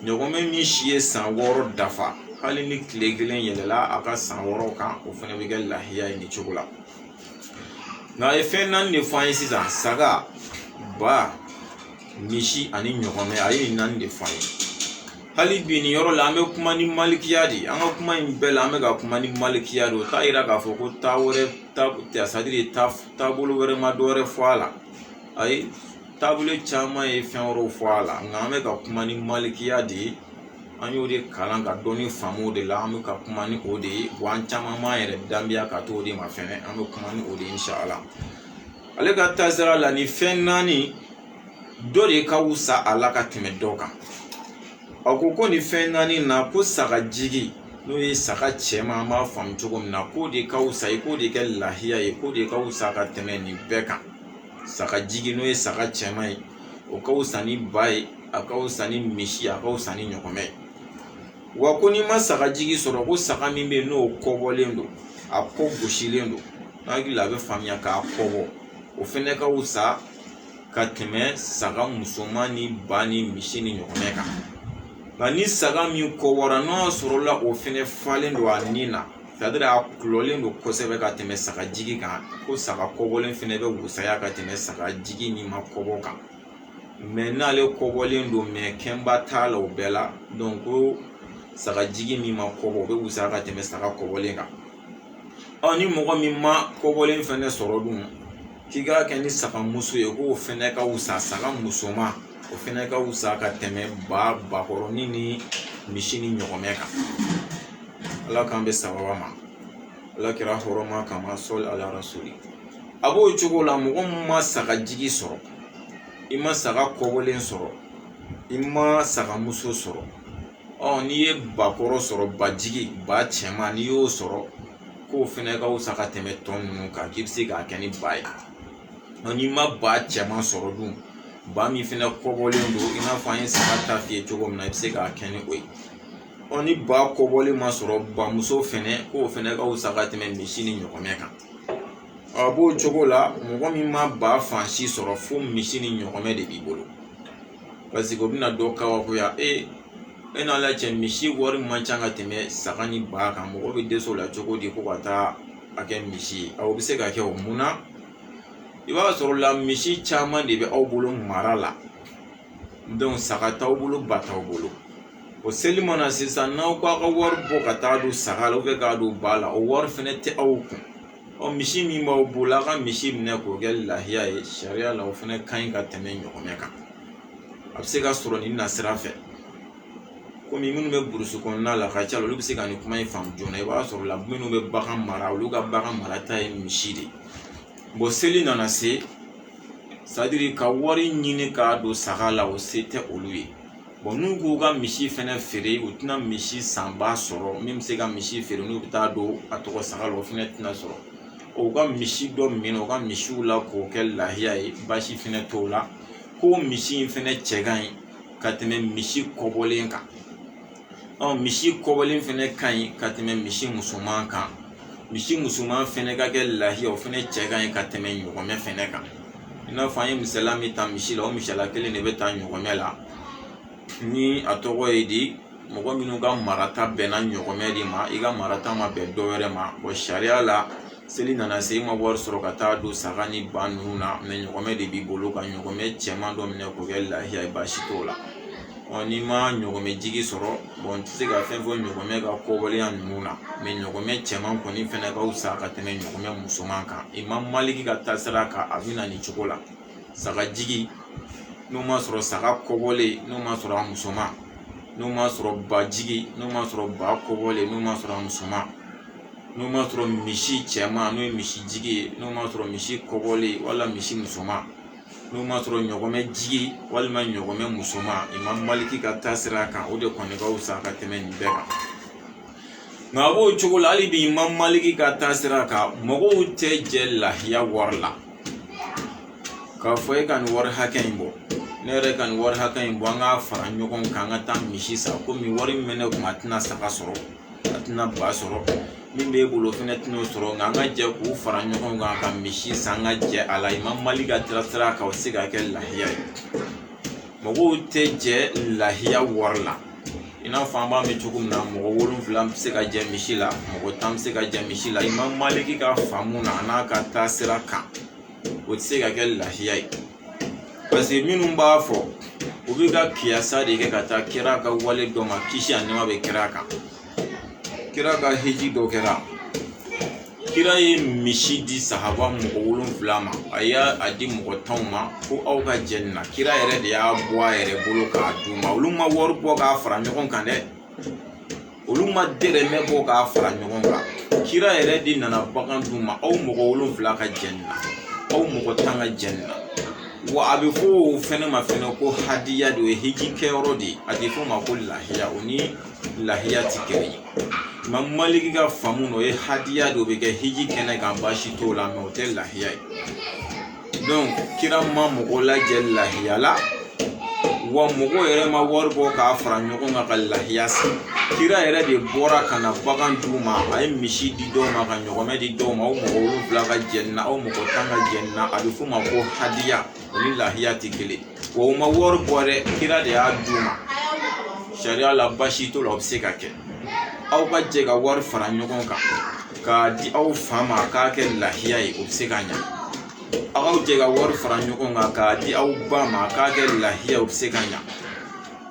ɲɔgɔmɛ min si ye san wɔɔrɔ dafa hali ni tile kelen yɛlɛla a ka san wɔɔrɔ kan o fɛnɛ bɛ kɛ lahiya ye nin cogo la nka a ye fɛn naani de fɔ an ye sisan saga ba misi ani ɲɔgɔmɛ a ye nin naani de fɔ an ye hali bi nin yɔrɔ la an bɛ kuma ni malikiya de an ka kuma in bɛɛ la an bɛ ka kuma ni malikiya de o t'a yira k'a fɔ ko taa c'est-à-dire taabolo wɛrɛ ma dɔ wɛrɛ fɔ a la ayi taabolo caman ye fɛn wɛrɛw fɔ a la nka an bɛ ka kuma ni malikiya de ye an y'o de kalan ka dɔnni faamu o de la an bɛ ka kuma ni o de ye wa an caman b'an yɛrɛ danbeya ka t'o de ma fɛnɛ an bɛ kuma ni o de ye inshallah ale ka taasira la nin fɛn naani dɔ de ka wusa a la ka tɛmɛ dɔ kan a ko ko nin fɛn naani na ko saga jigi n'o ye saga cɛman an b'a faamu cogo min na k'o de ka wusa ye k'o de kɛ lahiya ye k'o de ka wusa ka tɛmɛ nin bɛɛ kan saga jigi n'o ye saga cɛman ye o ka wusa ni ba ye a ka wusa ni misi a ka wusa ni ɲɔgɔmɛ ye wa ko n'i ma saga jigi sɔrɔ ko saga min bɛ yen n'o kɔbɔlen don a kɔ gosilen don hakili la a bɛ faamuya k'a kɔbɔ o fɛnɛ ka wusa ka tɛmɛ saga musoman ni ba ni misi ni ɲɔgɔmɛ kan nka ni saga min kɔbɔra n'a sɔrɔla o fɛnɛ falen don a nin na c'est-à-dire a kulɔlen don kosɛbɛ ka tɛmɛ saga jigi kan ko saga kɔbɔlen fɛnɛ bɛ wusaya ka tɛmɛ saga jigi min ma kɔbɔ kan mais n'ale kɔbɔlen don mais kɛnba t'a la o bɛɛ la donc ko saga jigi min ma kɔbɔ o bɛ wusaya ka tɛmɛ saga kɔbɔlen kan ɔ ni mɔgɔ min ma kɔbɔlen fɛnɛ sɔrɔ dun k'i k'a kɛ ni saga muso ye k'o fɛnɛ ka wusa saga musoman o fɛnɛ ka wusa ka tɛmɛ ba bakɔrɔnin ni misi ni ɲɔgɔmɛ kan ala k'an bɛn sawaba ma ala kira hɔrɔma kama sɔli ala rasuli a b'o cogo la mɔgɔ min ma saga jigi sɔrɔ i ma saga kɔbɔlen sɔrɔ i ma saga muso sɔrɔ ɔ n'i ye bakɔrɔ sɔrɔ bajigi ba cɛman n'i y'o sɔrɔ k'o fɛnɛ ka wusa ka tɛmɛ tɔ ninnu kan k'i bɛ se k'a kɛ ni ba ye n'i ma ba cɛman sɔrɔ dun ba min fɛnɛ kɔbɔlen don i n'a fɔ an ye saga ta f'i ye cogo min na i bɛ se k'a kɛ ni o ye ɔ ni ba kɔbɔlen ma sɔrɔ bamuso fɛnɛ k'o fɛnɛ ka wusa ka tɛmɛ misi ni ɲɔgɔmɛ kan a b'o cogo la mɔgɔ min ma ba fan si sɔrɔ fo misi ni ɲɔgɔmɛ de b'i bolo paseke o bɛna dɔ kabakoya e e n'ala cɛ misi wari man ca ka tɛmɛ saga ni ba kan mɔgɔ bɛ dɛsɛ o la cogo di ko ka taa a kɛ misi ye o bɛ se ka kɛ o mun na i b'a sɔrɔ la misi caman de bɛ aw bolo mara la saga t'aw bolo ba t'aw bolo o seli nana sisan n'aw k'a ka wari bɔ ka taa don saga la k'a don ba la o wari fɛnɛ tɛ aw kun ɔ misi min b'aw bolo a ka misi minɛ k'o kɛ lahiya ye sariya la o fɛnɛ ka ɲi ka tɛmɛ ɲɔgɔmɛ kan a bɛ se ka sɔrɔ nin na sira fɛ komi minnu bɛ burusi kɔnɔna la ka ca olu bɛ se ka nin kuma in faamu joona i b'a sɔrɔ la minnu bɛ bagan mara olu ka bagan marata ye misi de ye seli nana se sadiri ka wari ɲini k'a don saga la o se tɛ olu ye n'u k'u ka misi fɛnɛ feere u tɛna misi sanba sɔrɔ min bɛ se ka misi feere n'u bɛ taa don a tɔgɔ saga la o fɛnɛ tɛna sɔrɔ u ka misi dɔ minɛ u ka misiw la k'o kɛ lahiya ye baasi fɛnɛ t'o la ko misi in fɛnɛ cɛ ka ɲi ka tɛmɛ misi kɔbɔlen kan ɔ misi kɔbɔlen fɛnɛ ka ɲi ka tɛmɛ misi musoman kan misi musoman fɛnɛ ka kɛ lahiya o fɛnɛ cɛ ka ɲi ka tɛmɛ ɲɔgɔmɛ fɛnɛ kan i n'a fɔ an ye misala min ta misi la o misala kelen de bɛ ta ɲɔgɔmɛ la ni a tɔgɔ ye di mɔgɔ minnu ka marata bɛnna ɲɔgɔmɛ de ma i ka marata ma bɛn dɔ wɛrɛ ma wa sariya la seli nana se i ma wari sɔrɔ ka taa don saga ni ba ninnu na mɛ ɲɔgɔmɛ de b'i bolo ka ɲɔgɔmɛ cɛman dɔ minɛ k'o kɛ lahiya ye baasi t'o la n'i ma ɲɔgɔmɛ jigi sɔrɔ n tɛ se ka fɛn fɔ ɲɔgɔmɛ ka kɔbɔlenya ninnu na mɛ ɲɔgɔmɛ cɛman kɔni fɛnɛ ka fisa ka tɛmɛ ɲɔgɔmɛ musoman kan imam maliki ka taasira kan a bɛ na nin cogo la saga jigi n'o ma sɔrɔ saga kɔbɔlen n'o ma sɔrɔ a musoman n'o ma sɔrɔ ba jigi n'o ma sɔrɔ ba kɔbɔlen n'o ma sɔrɔ a musoman n'o ma sɔrɔ misi cɛman n'o ye misi jigi ye n'o ma sɔrɔ misi kɔbɔlen wala misi musoman n'o ma sɔrɔ ɲɔgɔmɛ jigi walima ɲɔgɔmɛ musoman imam maliki ka taasira kan o de kɔni ka fisa ka tɛmɛ nin bɛɛ kan nka a b'o cogo la hali bi imam maliki ka taasira kan mɔgɔw tɛ jɛ lahiya wari la k'a fɔ e ka nin wari hakɛ in bɔ ne yɛrɛ ka nin wari hakɛ in bɔ an ka fara ɲɔgɔn kan an ka taa misi san komi wari min bɛ ne kun a tɛna saga sɔrɔ a tɛna ba sɔrɔ min b'e bolo o fɛnɛ tɛn'o sɔrɔ nka an ka jɛ k'u fara ɲɔgɔn kan ka misi san ka jɛ a la imam maliki ka taasira kan o tɛ se ka kɛ lahiya ye mɔgɔw tɛ jɛ lahiya wari la i n'a fɔ an b'a mɛn cogo min na mɔgɔ wolonfila bɛ se ka jɛ misi la mɔgɔ tan bɛ se ka jɛ misi la imam maliki ka faamu na an'a ka taasira kan o tɛ se ka kɛ lahiya ye paseke minnu b'a fɔ u bɛ ka kiyasa de kɛ ka taa kira ka wale dɔ ma kisi ani nɛma bɛ kira kan kira ka hiji dɔ kɛra kira ye misi di sahaba mɔgɔ wolonfila ma a y'a di mɔgɔ tan ma ko aw ka jɛ nin na kira yɛrɛ de y'a bɔ a yɛrɛ bolo k'a d'u ma olu ma wari bɔ k'a fara ɲɔgɔn kan dɛ olu ma dɛrɛmɛ bɔ k'a fara ɲɔgɔn kan kira yɛrɛ de nana bagan d'u ma aw mɔgɔ wolonfila ka jɛ nin na aw mɔgɔ tan ka jɛ nin na wa a bɛ fɔ o fɛnɛ ma fɛnɛ ko hadiya de o ye hiji kɛyɔrɔ de a tɛ fɔ o ma ko lahiya o ni lahiya tɛ kelen ye imam maliki ka faamu na o ye hadiya de o bɛ kɛ hiji kɛnɛ kan baasi t'o la mɛ o tɛ lahiya ye donc kira ma mɔgɔ lajɛ lahiya la wa mɔgɔ yɛrɛ ma wari bɔ k'a fara ɲɔgɔn kan ka lahiya san kira yɛrɛ de bɔra ka na bagan d'u ma a ye misi di dɔw ma ka ɲɔgɔmɛ di dɔw ma aw mɔgɔ wolonfila ka jɛ nin na aw mɔgɔ tan ka jɛ nin na a bɛ f'o ma ko hadiya o ni lahiya tɛ kelen O ma wari bɔ dɛ kira de y'a d'u ma sariya la baasi t'o la o bɛ se ka kɛ aw ka jɛ ka wari fara ɲɔgɔn kan k'a di aw fa ma a k'a kɛ lahiya ye o bɛ se ka ɲa aw ka jɛ ka wari fara ɲɔgɔn kan k'a di aw ba ma a k'a kɛ lahiya o bɛ se ka ɲa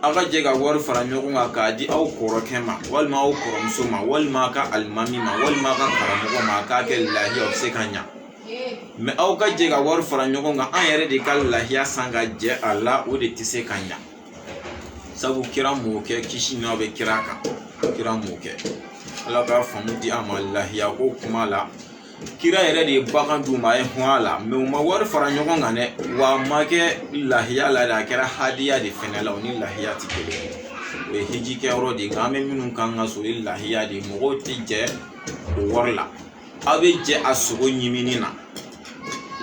aw ka jɛ ka wari fara ɲɔgɔn kan k'a di aw kɔrɔkɛ ma walima aw kɔrɔmuso ma walima a ka alimami ma walima a ka karamɔgɔ ma a k'a kɛ lahiya o bɛ se ka ɲa mɛ aw ka jɛ ka wari fara ɲɔgɔn kan an yɛrɛ de ka lahiya san ka jɛ a la o de tɛ se ka ɲa sabu kira m'o kɛ kisi n'a bɛ kira kan kira m'o kɛ ala ka faamu di an ma lahiya ko kuma la kira yɛrɛ de ye bagan d'u ma a y'u hɔn a la mɛ u ma wari fara ɲɔgɔn kan dɛ wa a ma kɛ lahiya la dɛ a kɛra hadiya de fɛnɛ la o ni lahiya tɛ kelen ye o ye hiji kɛyɔrɔ de ye nka an bɛ minnu kan ka so o ye lahiya de ye mɔgɔw tɛ jɛ o wari la aw bɛ jɛ a sogo ɲimini na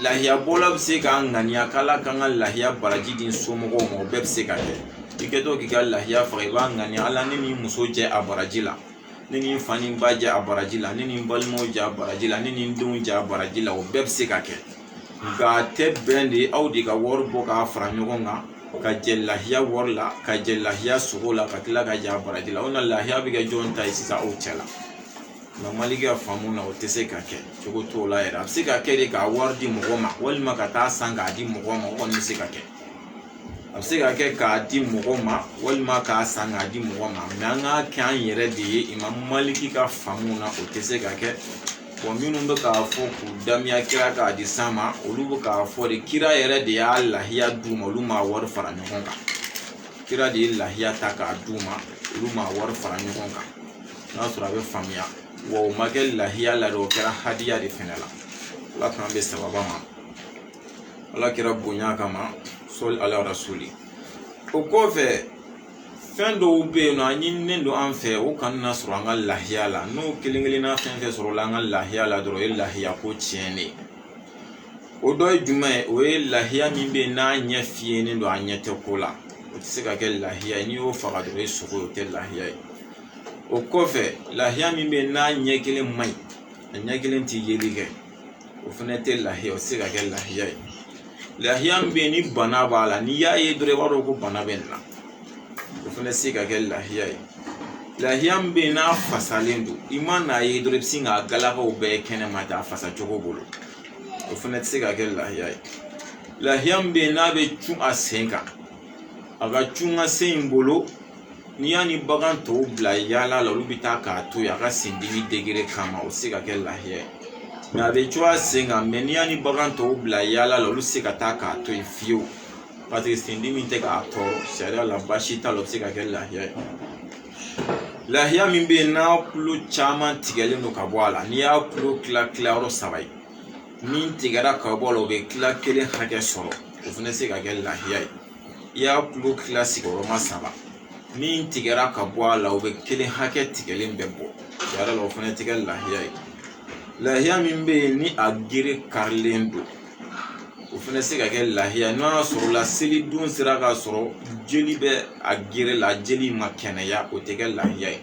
lahiya bɔla bɛ se k'a ŋaniya k'ala kan ka lahiya baraji di somɔgɔw ma o bɛɛ bɛ se ka kɛ i kɛtɔ k'i ka lahiya faga i b'a ŋaniya ala ne ni n muso jɛ a baraji la ne ni n fa ni ba jɛ a baraji la ne ni n balimaw jɛ a baraji la ne ni n denw jɛ a baraji la o bɛɛ bɛ se ka kɛ nka a tɛ bɛn de aw de ka wari bɔ k'a fara ɲɔgɔn kan ka jɛ lahiya wari la ka jɛ lahiya sogo la ka tila ka jɛ a baraji la o na lahiya bɛ kɛ jɔn ta ye sisan aw cɛ la nka maliki ka faamu na o tɛ se ka kɛ cogo t'o la yɛrɛ a bɛ se ka kɛ de k'a wari di mɔgɔ ma walima ka taa san k'a di mɔgɔ ma o kɔni bɛ se ka kɛ a bɛ se ka kɛ k'a di mɔgɔ ma walima k'a san k'a di mɔgɔ ma mɛ an k'a kɛ an yɛrɛ de ye imam maliki ka faamu na o tɛ se ka kɛ wa minnu bɛ k'a fɔ k'u damiya kira ka hadisi ma olu bɛ k'a fɔ de kira yɛrɛ de y'a lahiya d'u ma olu m'a wari fara ɲɔgɔn kan kira de ye lahiya ta k'a d'u ma olu m'a wari fara ɲɔgɔn kan n'a sɔrɔ a bɛ faamuya wa o ma kɛ lahiya la dɛ o kɛra hadiya de fɛnɛ la ala k'an bɛn sawaba ma ala kira bonya kama sɔli ala rasuli o kɔfɛ fɛn dɔw bɛ yen nɔ a ɲininen don an fɛ o kana na sɔrɔ an ka lahiya la n'o kelen kelenna fɛn fɛn sɔrɔla an ka lahiya la dɔrɔn o ye lahiya ko tiɲɛnen ye o dɔ ye jumɛn ye o ye lahiya min bɛ yen n'a ɲɛ fiyɛlen don a ɲɛ tɛ ko la o tɛ se ka kɛ lahiya ye n'i y'o faga dɔrɔn o ye sogo ye o tɛ lahiya ye o kɔfɛ lahiya min bɛ yen n'a ɲɛ kelen man ɲi a ɲɛ kelen tɛ yeli kɛ o fana tɛ lahiya o tɛ se ka kɛ lahiya ye lahiya min bɛ yen ni bana b'a la n'i y'a ye dɔrɔn i b'a dɔn ko bana bɛ nin na o fana tɛ se ka kɛ lahiya ye lahiya min bɛ yen n'a fasalen don i man'a ye dɔrɔn i bɛ sin k'a galakaw bɛɛ kɛnɛma ten a fasa cogo bolo o fana tɛ se ka kɛ lahiya ye lahiya min bɛ yen n'a bɛ cun a sen kan a ka cun a sen in bolo n'i y'a ni bagan tɔw bila yaala la olu bɛ taa k'a to yen a ka sen dimi degere kama o tɛ se ka kɛ lahiya ye mɛ a bɛ cun a sen kan mɛ n'i y'a ni bagan tɔw bila yaala la olu tɛ se ka taa k'a to yen fiyewu paseke sen dimi tɛ k'a tɔɔrɔ sariya la baasi t'a la o bɛ se ka kɛ lahiya ye lahiya min bɛ yen n'a kulo caman tigɛlen don ka bɔ a la n'i y'a kulo kila kila yɔrɔ saba ye min tigɛra ka bɔ a la o bɛ kila kelen hakɛ sɔrɔ o fɛnɛ tɛ se ka kɛ lahiya ye i y'a kulo kila sigiyɔrɔma saba min tigɛra ka bɔ a la o bɛ kelen hakɛ tigɛlen bɛ bɔ a la o fɛnɛ tɛ kɛ lahiya ye lahiya min bɛ yen ni a gere karilen don o fɛnɛ se ka kɛ lahiya n'a sɔrɔla seli don sera k'a sɔrɔ jeli bɛ a gere la jeli ma kɛnɛya o tɛ kɛ lahiya ye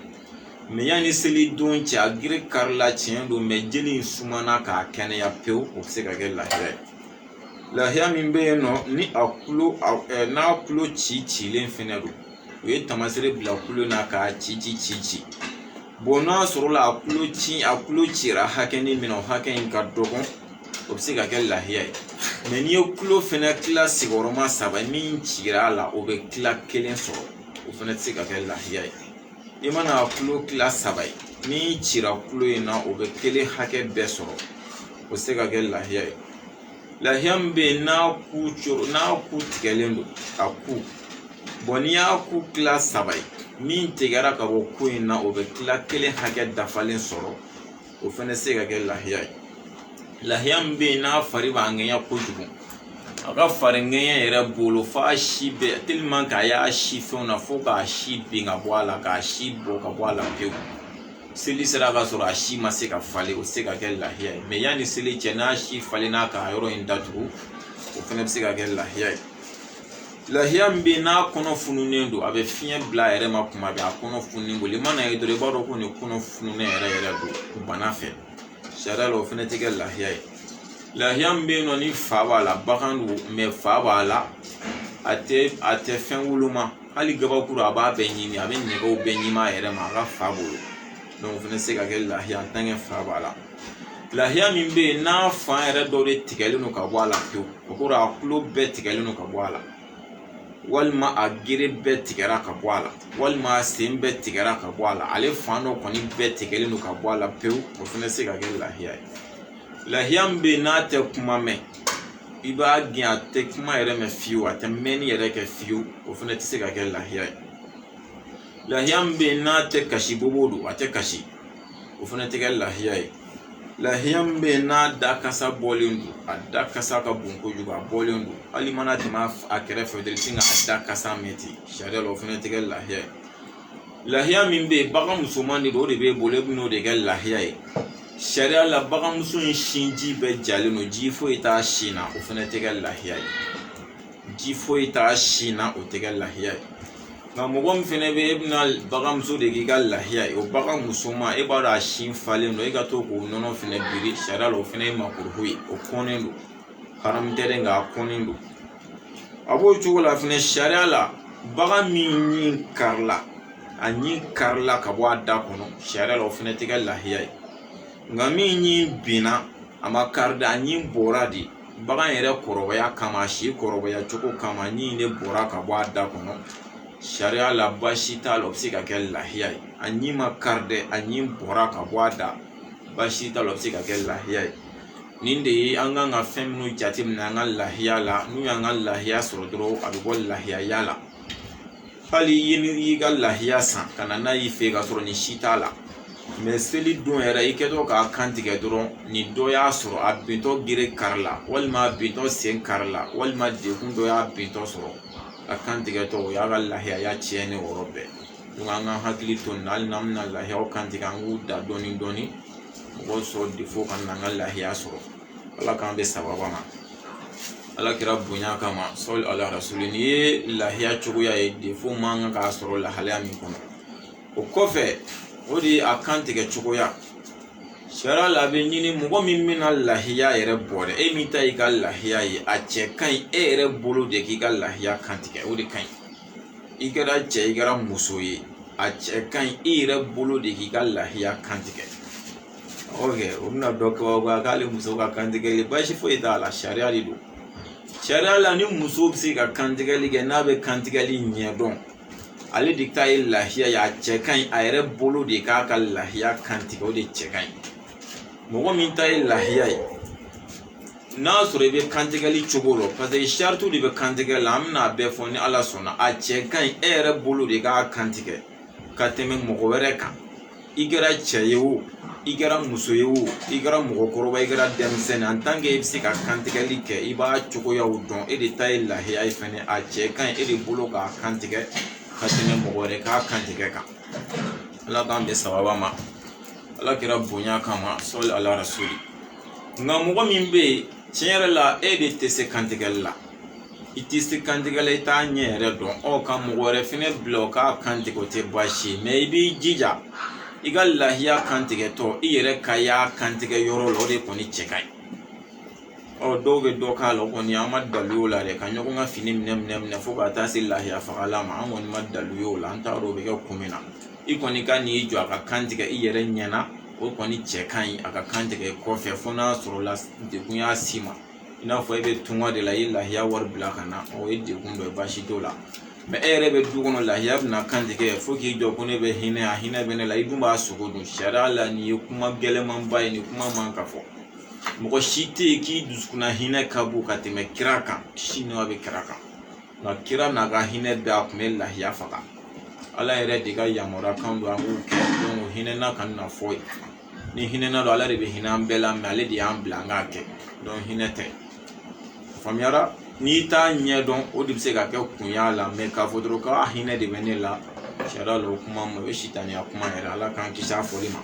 mɛ yanni seli don cɛ a gere karila tiɲɛ don mɛ jeli in sumana ka kɛnɛya pewu o bɛ se ka kɛ lahiya ye lahiya min bɛ yen nɔ ni a kulo n'a kulo ci cilen fɛnɛ don u ye tamasere bila kulo na k'a ci ci ci ci bon n'a sɔrɔla a kulo ci a kulo cira hakɛnin min na o hakɛ in ka dɔgɔ o bɛ se ka kɛ lahiya ye mɛ n'i ye kulo fɛnɛ kila sigiyɔrɔma saba min cira a la o bɛ kila kelen sɔrɔ o fɛnɛ tɛ se ka kɛ lahiya ye i mana a kulo kila saba ye min cira kulo in na o bɛ kelen hakɛ bɛɛ sɔrɔ o tɛ se ka kɛ lahiya ye lahiya min bɛ yen n'a ku coro n'a ku tigɛlen don a ku bon n'i y'a ku kila saba ye min tigɛra ka bɔ ku in na o bɛ kila kelen hakɛ dafalen sɔrɔ o fɛnɛ tɛ se ka kɛ lahiya ye lahiya min bɛ yen n'a fari b'a ŋɛɲɛ kojugu a ka fari ŋɛɲɛ yɛrɛ bolo f'a si bɛɛ tellement k'a y'a si fɛnw na fo k'a si bin ka bɔ a la k'a si bɔ ka bɔ a la pewu seli sera ka sɔrɔ a si ma se ka falen o tɛ se ka kɛ lahiya ye mɛ yanni seli cɛ n'a si falenna k'a yɔrɔ in datugu o fɛnɛ bɛ se ka kɛ lahiya ye lahiya min bɛ yen n'a kɔnɔ fununen don a bɛ fiɲɛ bila a yɛrɛ ma kuma bɛɛ a kɔnɔ fununen bolo i mana ye dɔrɔn i b'a dɔn ko nin kɔnɔ fununen yɛrɛ yɛrɛ don bana fɛ sariya la o fɛnɛ tɛ kɛ lahiya ye lahiya min bɛ yen nɔ ni fa b'a la bagan don fa b'a la a tɛ a tɛ fɛn woloma hali gabakuru a b'a bɛɛ ɲimi a bɛ nɛgɛw bɛɛ ɲimi a yɛrɛ ma a ka fa bolo o fɛnɛ tɛ se ka kɛ lahiya tant que fa b'a la lahiya min bɛ yen n'a fan yɛrɛ dɔ de tigɛlen don ka bɔ a la pewu o kɔrɔ a kulo bɛɛ tigɛlen don ka bɔ a la walima a gere bɛɛ tigɛra ka bɔ a la walima a sen bɛɛ tigɛra ka bɔ a la ale fan dɔ kɔni bɛɛ tigɛlen don ka bɔ a la pewu o fɛnɛ tɛ se ka kɛ lahiya ye lahiya min bɛ yen n'a tɛ kuma mɛn i b'a gɛn a tɛ kuma yɛrɛ mɛn fiyewu a tɛ mɛnni yɛrɛ kɛ fiyewu o fɛnɛ tɛ se ka kɛ lahiya ye lahiya min bɛ yen n'a tɛ kasi bobo don a tɛ kasi o fɛnɛ tɛ kɛ lahiya ye lahiya min bɛ yen n'a da kasa bɔlen don a da kasa ka bon kojugu a bɔlen don hali mana tɛmɛ a kɛrɛfɛ dɔrɔn i bɛ sin k'a da kasa mɛn ten sariya la o fɛnɛ tɛ kɛ lahiya ye lahiya min bɛ yen bagan musoman de don o de b'e bolo e bɛn'o de kɛ lahiya ye sariya la baganmuso in sinji bɛɛ jalen don ji foyi t'a sin na o fɛnɛ tɛ kɛ lahiya ye ji foyi t'a sin na o tɛ kɛ lahiya ye nka mɔgɔ min fɛnɛ bɛ e bɛna baganmuso de k'i ka lahiya ye o bagan musoman e b'a dɔn a sin falen don e ka to k'o nɔnɔ fɛnɛ biri sariya la o fɛnɛ ye makuru ye o kɔnnen don haramu tɛ dɛ nka a kɔnnen don a b'o cogo la fɛnɛ sariya la bagan min ɲi karila a ɲi karila ka bɔ a da kɔnɔ sariya la o fɛnɛ tɛ kɛ lahiya ye nka min ɲi binna a ma kari dɛ a ɲi bɔra de bagan yɛrɛ kɔrɔbaya kama a si kɔrɔbaya cogo kama ɲi de bɔra ka bɔ a da kɔnɔ sariya la baasi t'a la o bɛ se ka kɛ lahiya ye a ɲi ma kari dɛ a ɲi bɔra ka bɔ a da baasi t'a la o bɛ se ka kɛ lahiya ye nin de ye an kan ka fɛn minnu jateminɛ an ka lahiya la n'u y'an ka lahiya sɔrɔ dɔrɔn a bɛ bɔ lahiyaya la hali n'i y'i ka lahiya san ka na n'a y'i fɛ yen ka sɔrɔ nin si t'a la mɛ seli don yɛrɛ i kɛtɔ k'a kan tigɛ dɔrɔn nin dɔ y'a sɔrɔ a bintɔ gere karila walima a bintɔ sen karila walima dekun dɔ y'a bintɔ sɔrɔ a kan tigɛtɔ o y'a ka lahiyaya tiɲɛnen o yɔrɔ bɛɛ an ka hakili to nin na hali n'an bɛna lahiyaw kan tigɛ an k'u da dɔɔni dɔɔni mɔgɔw sɔrɔ defo kana an ka lahiya sɔrɔ ala k'an bɛ sababa ma ala kira bonya kama sɔli ala rasuli nin ye lahiya cogoya ye defo man kan ka sɔrɔ lahalaya min kɔnɔ o kɔfɛ o de ye a kan tigɛ cogoya sariya la a bɛ ɲini mɔgɔ min bɛna lahiya yɛrɛ bɔ dɛ e min ta y'i ka lahiya ye a cɛ ka ɲi e yɛrɛ bolo de k'i ka lahiya kan tigɛ o de ka ɲi i kɛra cɛ ye i kɛra muso ye a cɛ ka ɲi i yɛrɛ bolo de k'i ka lahiya kan tigɛ o bɛna dɔ kabakoya k'ale muso ka kantigɛli baasi foyi t'a la sariya de don sariya la ni muso bɛ se ka kantigɛli kɛ n'a bɛ kantigɛli ɲɛ dɔn ale de ta ye lahiya ye a cɛ ka ɲi a yɛrɛ bolo de k'a ka lahiya kantigɛ o de cɛ ka ɲi mɔgɔ min ta ye lahiya ye n'a sɔrɔ i bɛ kantigɛli cogo dɔn paseke saritiw de bɛ kantigɛ la an bɛna a bɛɛ fɔ ni ala sɔnna a cɛ ka ɲi e yɛrɛ bolo de k'a kantigɛ ka tɛmɛ mɔgɔ wɛrɛ kan i kɛra cɛ ye o i kɛra muso ye o i kɛra mɔgɔkɔrɔba i kɛra denmisɛnnin en tant que i bɛ se ka kantigɛli kɛ i b'a cogoyaw dɔn e de ta ye lahiya ye fɛnɛ a cɛ ka ɲi e de bolo k'a kantigɛ ka tɛmɛ mɔgɔ wɛrɛ k'a kantigɛ kan ala k'an bɛn sawaba ma ala kira bonya kama sɔli ala rasuli nka mɔgɔ min bɛ yen tiɲɛ yɛrɛ la e de tɛ se kantigɛli la i tɛ se kantigɛ la i t'a ɲɛ yɛrɛ dɔn ɔ ka mɔgɔ wɛrɛ fɛnɛ bila o k'a kantigɛ o tɛ baasi ye mɛ i b'i jija i ka lahiya kantigɛtɔ i yɛrɛ ka y'a kantigɛ yɔrɔ la o de kɔni cɛ ka ɲi ɔ dɔw bɛ dɔ k'a la o kɔni an ma dalu y'o la dɛ ka ɲɔgɔn ka fini minɛ minɛ minɛ fo ka taa se lahiya fagala ma an kɔni ma dalu y'o la an t'a dɔn o bɛ kɛ kun min na i kɔni ka n'i jɔ a ka kan tigɛ i yɛrɛ ɲɛna o kɔni cɛ ka ɲi a ka kan tigɛ kɔfɛ fo n'a sɔrɔla degun y'a s'i ma i n'a fɔ e bɛ tunga de la i ye lahiya wari bila ka na o ye degun dɔ ye baasi t'o la mɛ e yɛrɛ bɛ du kɔnɔ lahiya bɛna kan tigɛ fo k'i jɔ ko ne bɛ hinɛ a hinɛ bɛ ne la i dun b'a sogo dun sariya la nin ye kuma gɛlɛnmanba ye nin kuma man ka fɔ mɔgɔ si tɛ yen k'i dusukunna hinɛ ka bon ka tɛmɛ kira kan kisi ni nɛɛma bɛ kira kan nka kira n'a ka hinɛ bɛɛ a tun bɛ lahiya faga ala yɛrɛ de ka yamaruya kan don an k'o kɛ o hinɛ na kana fɔ yen ni hinɛ na don ala de bɛ hinɛ an bɛɛ la mɛ ale de y'an bila an k'a kɛ hinɛ tɛ faamuyara n'i t'a ɲɛ dɔn o de bɛ se ka kɛ kun y'a la mɛ k'a fɔ dɔrɔn k'a hinɛ de bɛ ne la sariya la o kuma ma o ye sitaniya kuma yɛrɛ ala k'an kisi a fɔli ma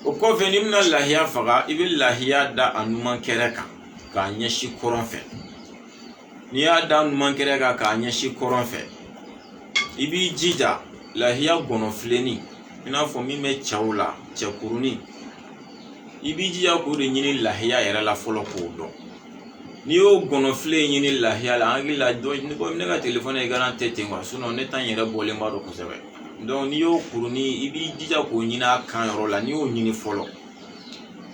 o kɔfɛ n'i bɛna lahiya faga i bɛ lahiya da a numan kɛrɛ kan k'a ɲɛsin kɔrɔn fɛ n'i y'a da numan kɛrɛ kan k'a ɲɛsin kɔrɔn fɛ i b'i jija lahiya gɔnɔfilennin i n'a fɔ min bɛ cɛw la cɛkurunin i b'i jija k'o de ɲini lahiya yɛrɛ la fɔlɔ k'o dɔn n'i y'o gɔnɔfile ɲini lahiya la hakili la dɔn ko ne ka telefɔni écran tɛ ten kuwa ne ta in yɛrɛ bɔlenba don kosɛbɛ n'i y'o kurunin i b'i jija k'o ɲini a kan yɔrɔ la n'i y'o ɲini fɔlɔ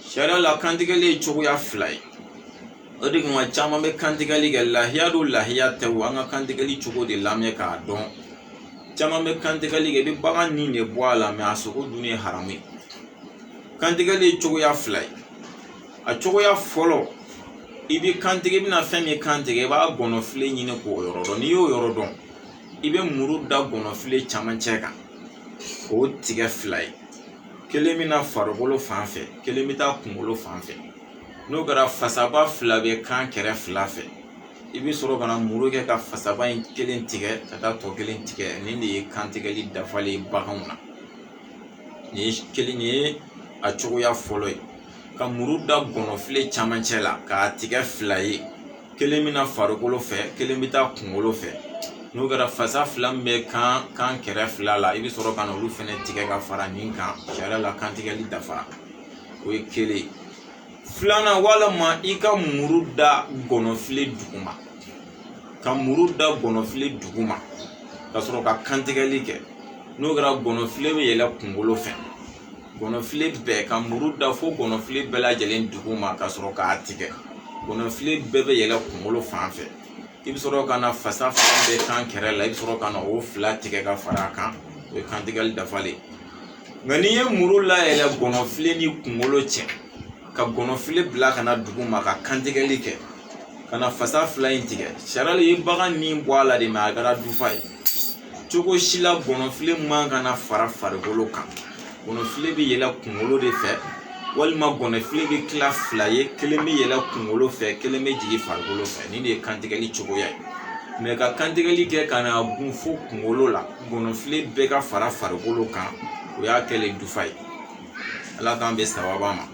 sariya la kantigɛli ye cogoya fila ye o de kama caman bɛ kantigɛli kɛ lahiya don lahiya tɛ o an ka kantigɛli cogo de lamɛn k'a dɔn caman bɛ kantigɛli kɛ i bɛ bagan ni de bɔ a la mɛ a sogo dun ye haramu ye kantigɛli ye cogoya fila ye a cogoya fɔlɔ i bɛ kantigɛ i bɛna fɛn min kantigɛ i b'a gɔnɔfile ɲini k'o yɔrɔ dɔn n'i y'o yɔrɔ dɔn i bɛ muru da gɔnɔfile camancɛ kan k'o tigɛ fila ye kelen bɛ na farikolo fan fɛ kelen bɛ taa kunkolo fan fɛ n'o kɛra fasaba fila bɛ kan kɛrɛ fila fɛ i bɛ sɔrɔ ka na muru kɛ ka fasaba in kelen tigɛ ka taa tɔ kelen tigɛ nin de ye kantigɛli dafalen ye baganw na nin ye a cogoya fɔlɔ ye ka muru da gɔnɔfile camancɛ la k'a tigɛ fila ye kelen bɛ na farikolo fɛ kelen bɛ taa kunkolo fɛ n'o kɛra fasa fila min bɛ kan kɛrɛ fila la i bɛ sɔrɔ ka na olu fɛnɛ tigɛ ka fara nin kan sariya la kantigɛli dafara o ye kelen ye filanan walima i ka muru da gɔnɔfile duguma ka muru da gɔnɔfile duguma ka sɔrɔ ka kantigɛli kɛ n'o kɛra gɔnɔfile bɛ yɛlɛ kunkolo fɛ gɔnɔfile bɛɛ ka muru da fo gɔnɔfile bɛɛ lajɛlen duguma ka sɔrɔ k'a tigɛ gɔnɔfile bɛɛ bɛ yɛlɛ kunkolo fan fɛ i bɛ sɔrɔ ka na fasa fila bɛ kan kɛrɛ la i bɛ sɔrɔ ka na o fila tigɛ ka fara a kan o ye kantigɛli dafalen ye nka n'i ye muru layɛlɛ gɔnɔfile ni kunkolo cɛ ka gɔnɔfile bila ka na duguma ka kantigɛli kɛ ka na fasa fila in tigɛ sariya la i ye bagan ni bɔ a la de mɛ a kɛra dufa ye cogo si la gɔnɔfile man ka na fara farikolo kan gɔnɔfile bɛ yɛlɛ kunkolo de fɛ walima gɔnɔfile bɛ tila fila ye kelen bɛ yɛlɛ kunkolo fɛ kelen bɛ jigin farikolo fɛ nin de ye kantigɛli cogoya ye mɛ ka kantigɛli kɛ ka na gun fo kunkolo la gɔnɔfile bɛɛ ka fara farikolo kan o y'a kɛlen dufa ye ala k'an bɛ sababa ma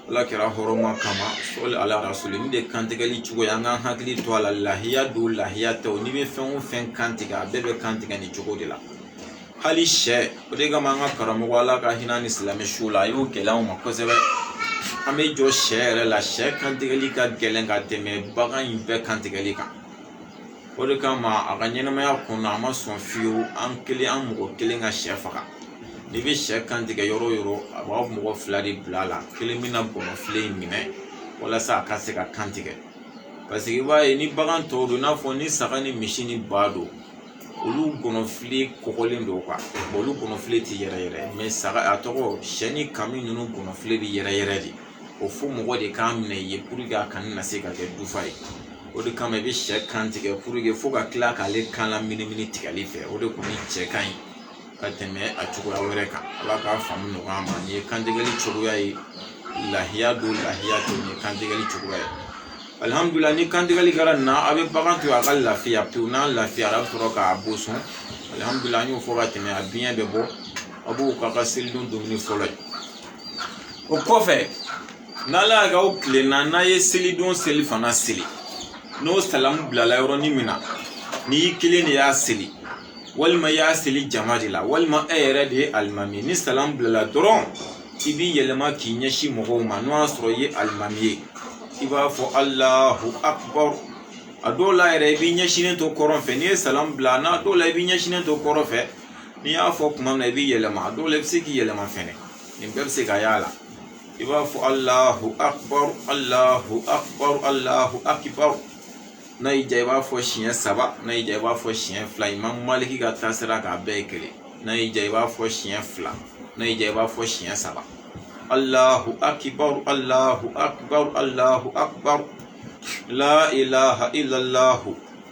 ala kira hɔrɔma kama sɔli ala rasuli nin de kantigɛli cogo ye an k'an hakili to a la lahiya don lahiya tɛ o n'i bɛ fɛn o fɛn kantigɛ a bɛɛ bɛ kantigɛ nin cogo de la hali sɛ o de kama an ka karamɔgɔ ala ka hinɛ a ni silamɛ su la a y'o gɛlɛya anw ma kosɛbɛ an bɛ jɔ sɛ yɛrɛ la sɛ kantigɛli ka gɛlɛn ka tɛmɛ bagan in bɛɛ kantigɛli kan o de kama a ka ɲɛnamaya kɔnɔna a ma sɔn fiyewu an kelen an mɔgɔ kelen ka sɛ faga n'i bɛ sɛ kantigɛ yɔrɔ o yɔrɔ a b'a mɔgɔ fila de bila a la kelen bɛna gɔnɔfile in minɛ walasa a ka se ka kantigɛ paseke i b'a ye ni bagan tɔw don i n'a fɔ ni saga ni misi ni ba don olu gɔnɔfile kɔgɔlen don olu gɔnɔfile tɛ yɛrɛyɛrɛ mɛ saga a tɔgɔ sɛ ni kami ninnu gɔnɔfile bɛ yɛrɛyɛrɛ de o fo mɔgɔ de k'a minɛ i ye pour que a kana na se ka kɛ jufa ye o de kama i bɛ sɛ kan tigɛ pour que fo ka kila k'ale kan la minimini tigɛli fɛ o de kɔni cɛ ka ɲi ka tɛmɛ a cogoya wɛrɛ kan ala k'a faamu nɔgɔya an ma nin ye kantigɛli cogoya ye lahiya don lahiya tɛ nin ye kantigɛli cogoya ye alihamudulila ni kantigɛli kɛra nin na a bɛ bagan to a ka lafiya pewu n'a lafiyara a bɛ sɔrɔ k'a boso alihamudulila an y'o fɔ ka tɛmɛ a biɲɛ bɛ bɔ a b'o k'a ka selidon dumuni fɔlɔ ye o kɔfɛ n'ala y'a kɛ aw tilenna n'a ye selidon selifana seli n'o salamu bilala yɔrɔnin min na n'i y'i kelen de y'a seli walima i y'a seli jama de la walima e yɛrɛ de ye alimami ye ni salamu bilala dɔrɔn i b'i yɛlɛma k'i ɲɛsin mɔgɔw ma n'o y'a sɔrɔ i ye alimami ye i b'a fɔ alahu akubaru a dɔw la yɛrɛ i b'i ɲɛsinnen to kɔrɔn fɛ n'i ye salamu bila n'a dɔw la i b'i ɲɛsinnen to kɔrɔn fɛ n'i y'a fɔ kuma min na i b'i yɛlɛma a dɔw la i bɛ se k'i yɛlɛma fɛnɛ nin bɛɛ bɛ se ka y'a la i b'a fɔ alahu akibaru alahu akibaru alahu akibaru n'a y'i diya i b'a fɔ siɲɛ saba n'a y'i diya i b'a fɔ siɲɛ fila imam maliki ka taasira k'a bɛɛ ye kelen n'a y'i diya i b'a fɔ siɲɛ fila n'a y'i diya i b'a fɔ siɲɛ saba alahu akibaru alahu akibaru alahu akibaru la ilaha illallahu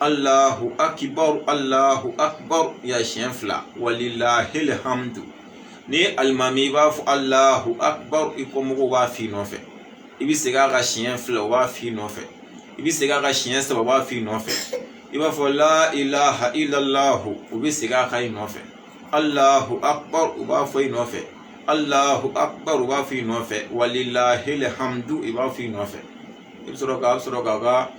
alahu akibaru alahu akibaru ya siɲɛ fila walilahil hamdu ni alimami i b'a fɔ alahu akibaru i kɔmɔgɔw b'a f'i nɔfɛ i bɛ segin a kan siɲɛ fila o b'a f'i nɔfɛ i bɛ segin a kan siɲɛ saba o b'a f'i nɔfɛ i b'a fɔ la ilaha illallahu u bɛ segin a kan i nɔfɛ alahu akibaru u b'a fɔ i nɔfɛ alahu akibaru u b'a fɔ i nɔfɛ walilahil hamdu i b'a fɔ i nɔfɛ i bɛ sɔrɔ ka sɔrɔ k'a ka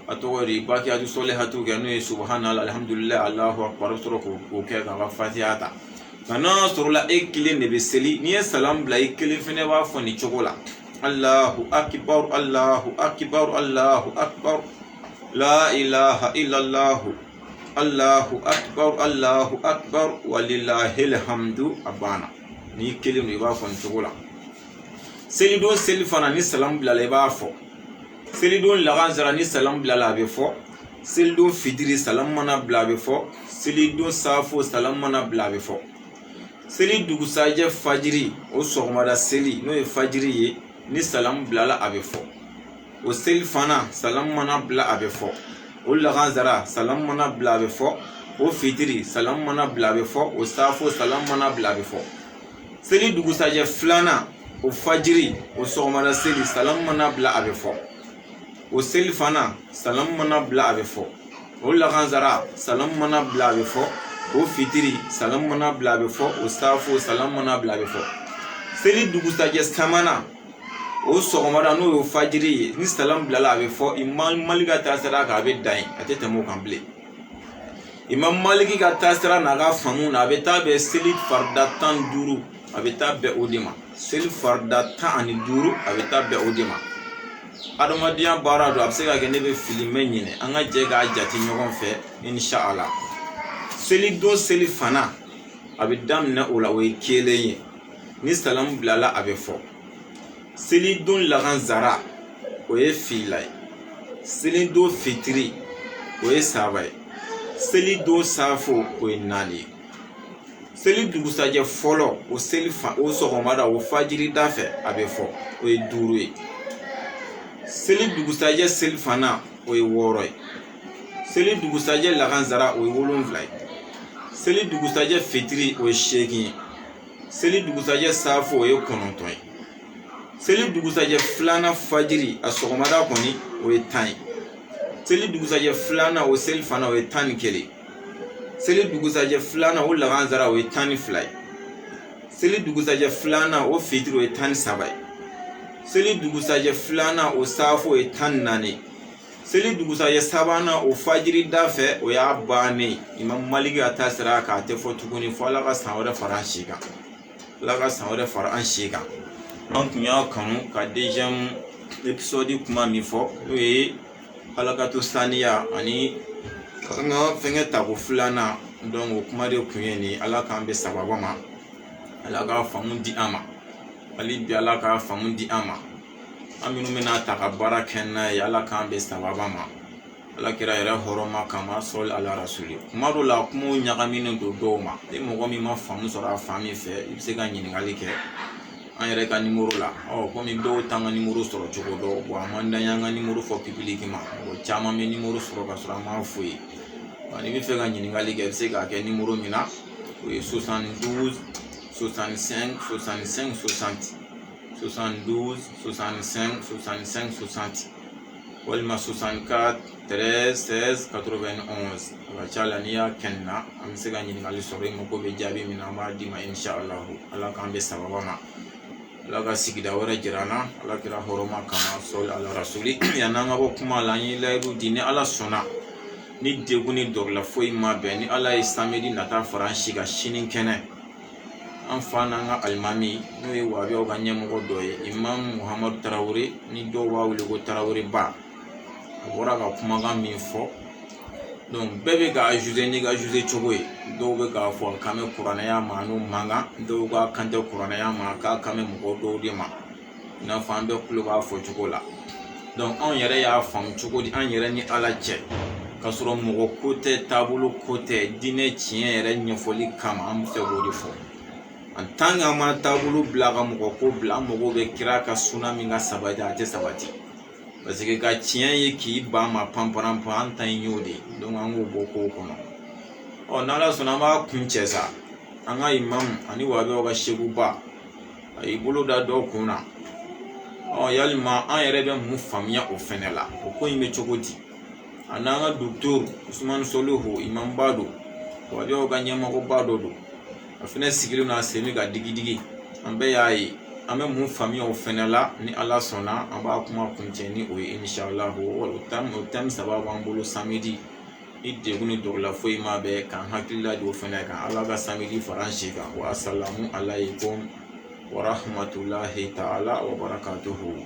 a tɔgɔ di bakiyatu solihatu kɛ n'o ye subahanala alihamudulila alahu akbar i bɛ sɔrɔ k'o kɛ k'a ka fatiha ta nka n'a sɔrɔla e kelen de bɛ seli n'i ye salam bila i kelen fɛnɛ b'a fɔ nin cogo la alahu akibaru alahu akibaru alahu akibaru la ilaha illallahu alahu akibaru alahu akibaru walilahilhamdu a banna n'i kelen don i b'a fɔ nin cogo la selidon selifana ni salamu bilala i b'a fɔ selidon lagansara ni salamu bilala a bɛ fɔ selidon fitiri salamu mana bila a bɛ fɔ selidon saafo salamu mana bila a bɛ fɔ seli dugusajɛ fajiri o sɔgɔmada seli n'o ye fajiri ye ni salamu bilala a bɛ fɔ o selifana salamu mana bila a bɛ fɔ o lagansara salamu mana bila a bɛ fɔ o fitiri salamu mana bila a bɛ fɔ o saafo salamu mana bila a bɛ fɔ seli dugusajɛ filanan o fajiri o sɔgɔmada seli salamu mana bila a bɛ fɔ o selifana salamu mana bila a bɛ fɔ o lagansara salamu mana bila a bɛ fɔ o fitiri salamu mana bila a bɛ fɔ o saafo salamu mana bila a bɛ fɔ seli dugusajɛ sabanan o sɔgɔmada n'o ye fajiri ye ni salamu bilala a bɛ fɔ imam maliki ka taasira kan a bɛ dan yen a tɛ tɛmɛ o kan bilen imam maliki ka taasira n'a ka faamu na a bɛ taa bɛn seli farida tan ni duuru a bɛ taa bɛn o de ma seli farida tan ani duuru a bɛ taa bɛn o de ma adamadenya baara don a bɛ se ka kɛ ne bɛ fili n bɛ ɲinɛ an ka jɛ k'a jate ɲɔgɔn fɛ inshala selidon selifana a bɛ daminɛ o la o ye kelen ye ni salamu bilala a bɛ fɔ selidon lagansara o ye fila ye selidon fitiri o ye saba ye selidon safo o ye naani ye seli dugusajɛ fɔlɔ o seli fa o sɔgɔmada o fajiri da fɛ a bɛ fɔ o ye duuru ye seli dugusajɛ selifana o ye wɔɔrɔ ye seli dugusajɛ lagansara o ye wolonwula ye seli dugusajɛ fitiri o ye seegin ye seli dugusajɛ saafo o ye kɔnɔntɔn ye seli dugusajɛ filanan fajiri a sɔgɔmada kɔni o ye tan ye seli dugusajɛ filanan o selifana o ye tan ni kelen seli dugusajɛ filanan o lagansara o ye tan ni fila ye seli dugusajɛ filanan o fitiri o ye tan ni saba ye seli dugusajɛ filanan o saafo o ye tan ni naani ye seli dugusajɛ sabanan o fajiri da fɛ o y'a bannen imam maliki ka taasira kan a tɛ fɔ tuguni fo ala ka san wɛrɛ fara an si kan ala ka san wɛrɛ fara an si kan an tun y'a kanu ka deuxième épisode kuma min fɔ n'o ye halakato saniya ani an ka fɛnkɛ tako filanan donc o kuma de kun ye nin ala k'an bɛn sababa ma ala ka faamu di an ma hali bi ala ka faamu di an ma an minnu bɛna taa ka baara kɛ n'a ye ala k'an bɛn sababa ma ala kira yɛrɛ hɔrɔma kama sɔli ala rasuli kuma dɔw la kumaw ɲagaminen don dɔw ma ni mɔgɔ min ma faamu sɔrɔ a fan min fɛ i bɛ se ka ɲininkali kɛ an yɛrɛ ka nimoro la ɔ kɔmi dɔw t'an ka nimoro sɔrɔ cogo dɔn wa a man d'an y'an ka nimoro fɔ public ma mɔgɔ caman bɛ nimoro sɔrɔ ka sɔrɔ an m'a f'u ye n'i bɛ fɛ ka ɲininkali kɛ i bɛ se k'a kɛ nimoro min na o ye 72 65 65 60 72 65 65 60 walima 64 13 16 91 a ka ca la n'i y'a kɛ nin na an bɛ se ka ɲininkali sɔrɔ i mako bɛ jaabi min na an b'a d'i ma inshalahu ala k'an bɛn sababa ma ala ka sigida wɛrɛ jira an na ala kira hɔrɔma kama sɔli ala rasuli yann'an ka bɔ kuma la an ye layidu di ni ala sɔnna ni degun ni dɔrɔla foyi ma bɛn ni ala ye samedi nata fara an si kan si ni kɛnɛ an fa n'an ka alimami n'o ye wahabiyaw ka ɲɛmɔgɔ dɔ ye imamu muhamadu tarawele ni dɔw b'a wele ko tarawele ba a bɔra ka kumakan min fɔ donc bɛɛ bɛ k'a juger n'i ka juger cogo ye dɔw bɛ k'a fɔ k'a kan bɛ kuranɛya ma n'u man kan dɔw k'a kan tɛ kuranɛya ma k'a kan bɛ mɔgɔ dɔw de ma i n'a fɔ an bɛɛ kulo b'a fɔ cogo la anw yɛrɛ y'a faamu cogo di an yɛrɛ ni ala cɛ k'a sɔrɔ mɔgɔ ko tɛ taabolo ko tɛ diinɛ tiɲɛ yɛrɛ ɲɛfɔli kama an bɛ fɛ k'o de fɔ en tant que an ma taabolo bila ka mɔgɔ ko bila an mago bɛ kira ka suna min ka sabati a tɛ sabati parce que ka tiɲɛ ye k'i ban ma panpan pan an ta in y'o de ye an k'o bɔ kow kɔnɔ ɔ n'ala sɔnna an b'a kuncɛ sa an ka imamu ani wahabiyaw ka sekuba a y'i bolo da dɔw kun na ɔ yalima an yɛrɛ bɛ mun faamuya o fɛnɛ la o ko in bɛ cogo di a n'an ka docteur usumani solihu imamuba don wahabiyaw ka ɲɛmɔgɔba dɔ don a fɛnɛ sigilen don a sen bɛ ka digidigi an bɛɛ y'a ye an bɛ mun faamuya o fɛnɛ la ni ala sɔnna an b'a kuma kuncɛ ni o ye inshallahu o thème saba b'an bolo samedi ni degun ni darura foyi ma bɛɛ k'an hakilila di o fɛnɛ kan ala ka samedi fara an si kan wa asalamu alayikum wa rahamatulahi ta'ala wa barakatuhu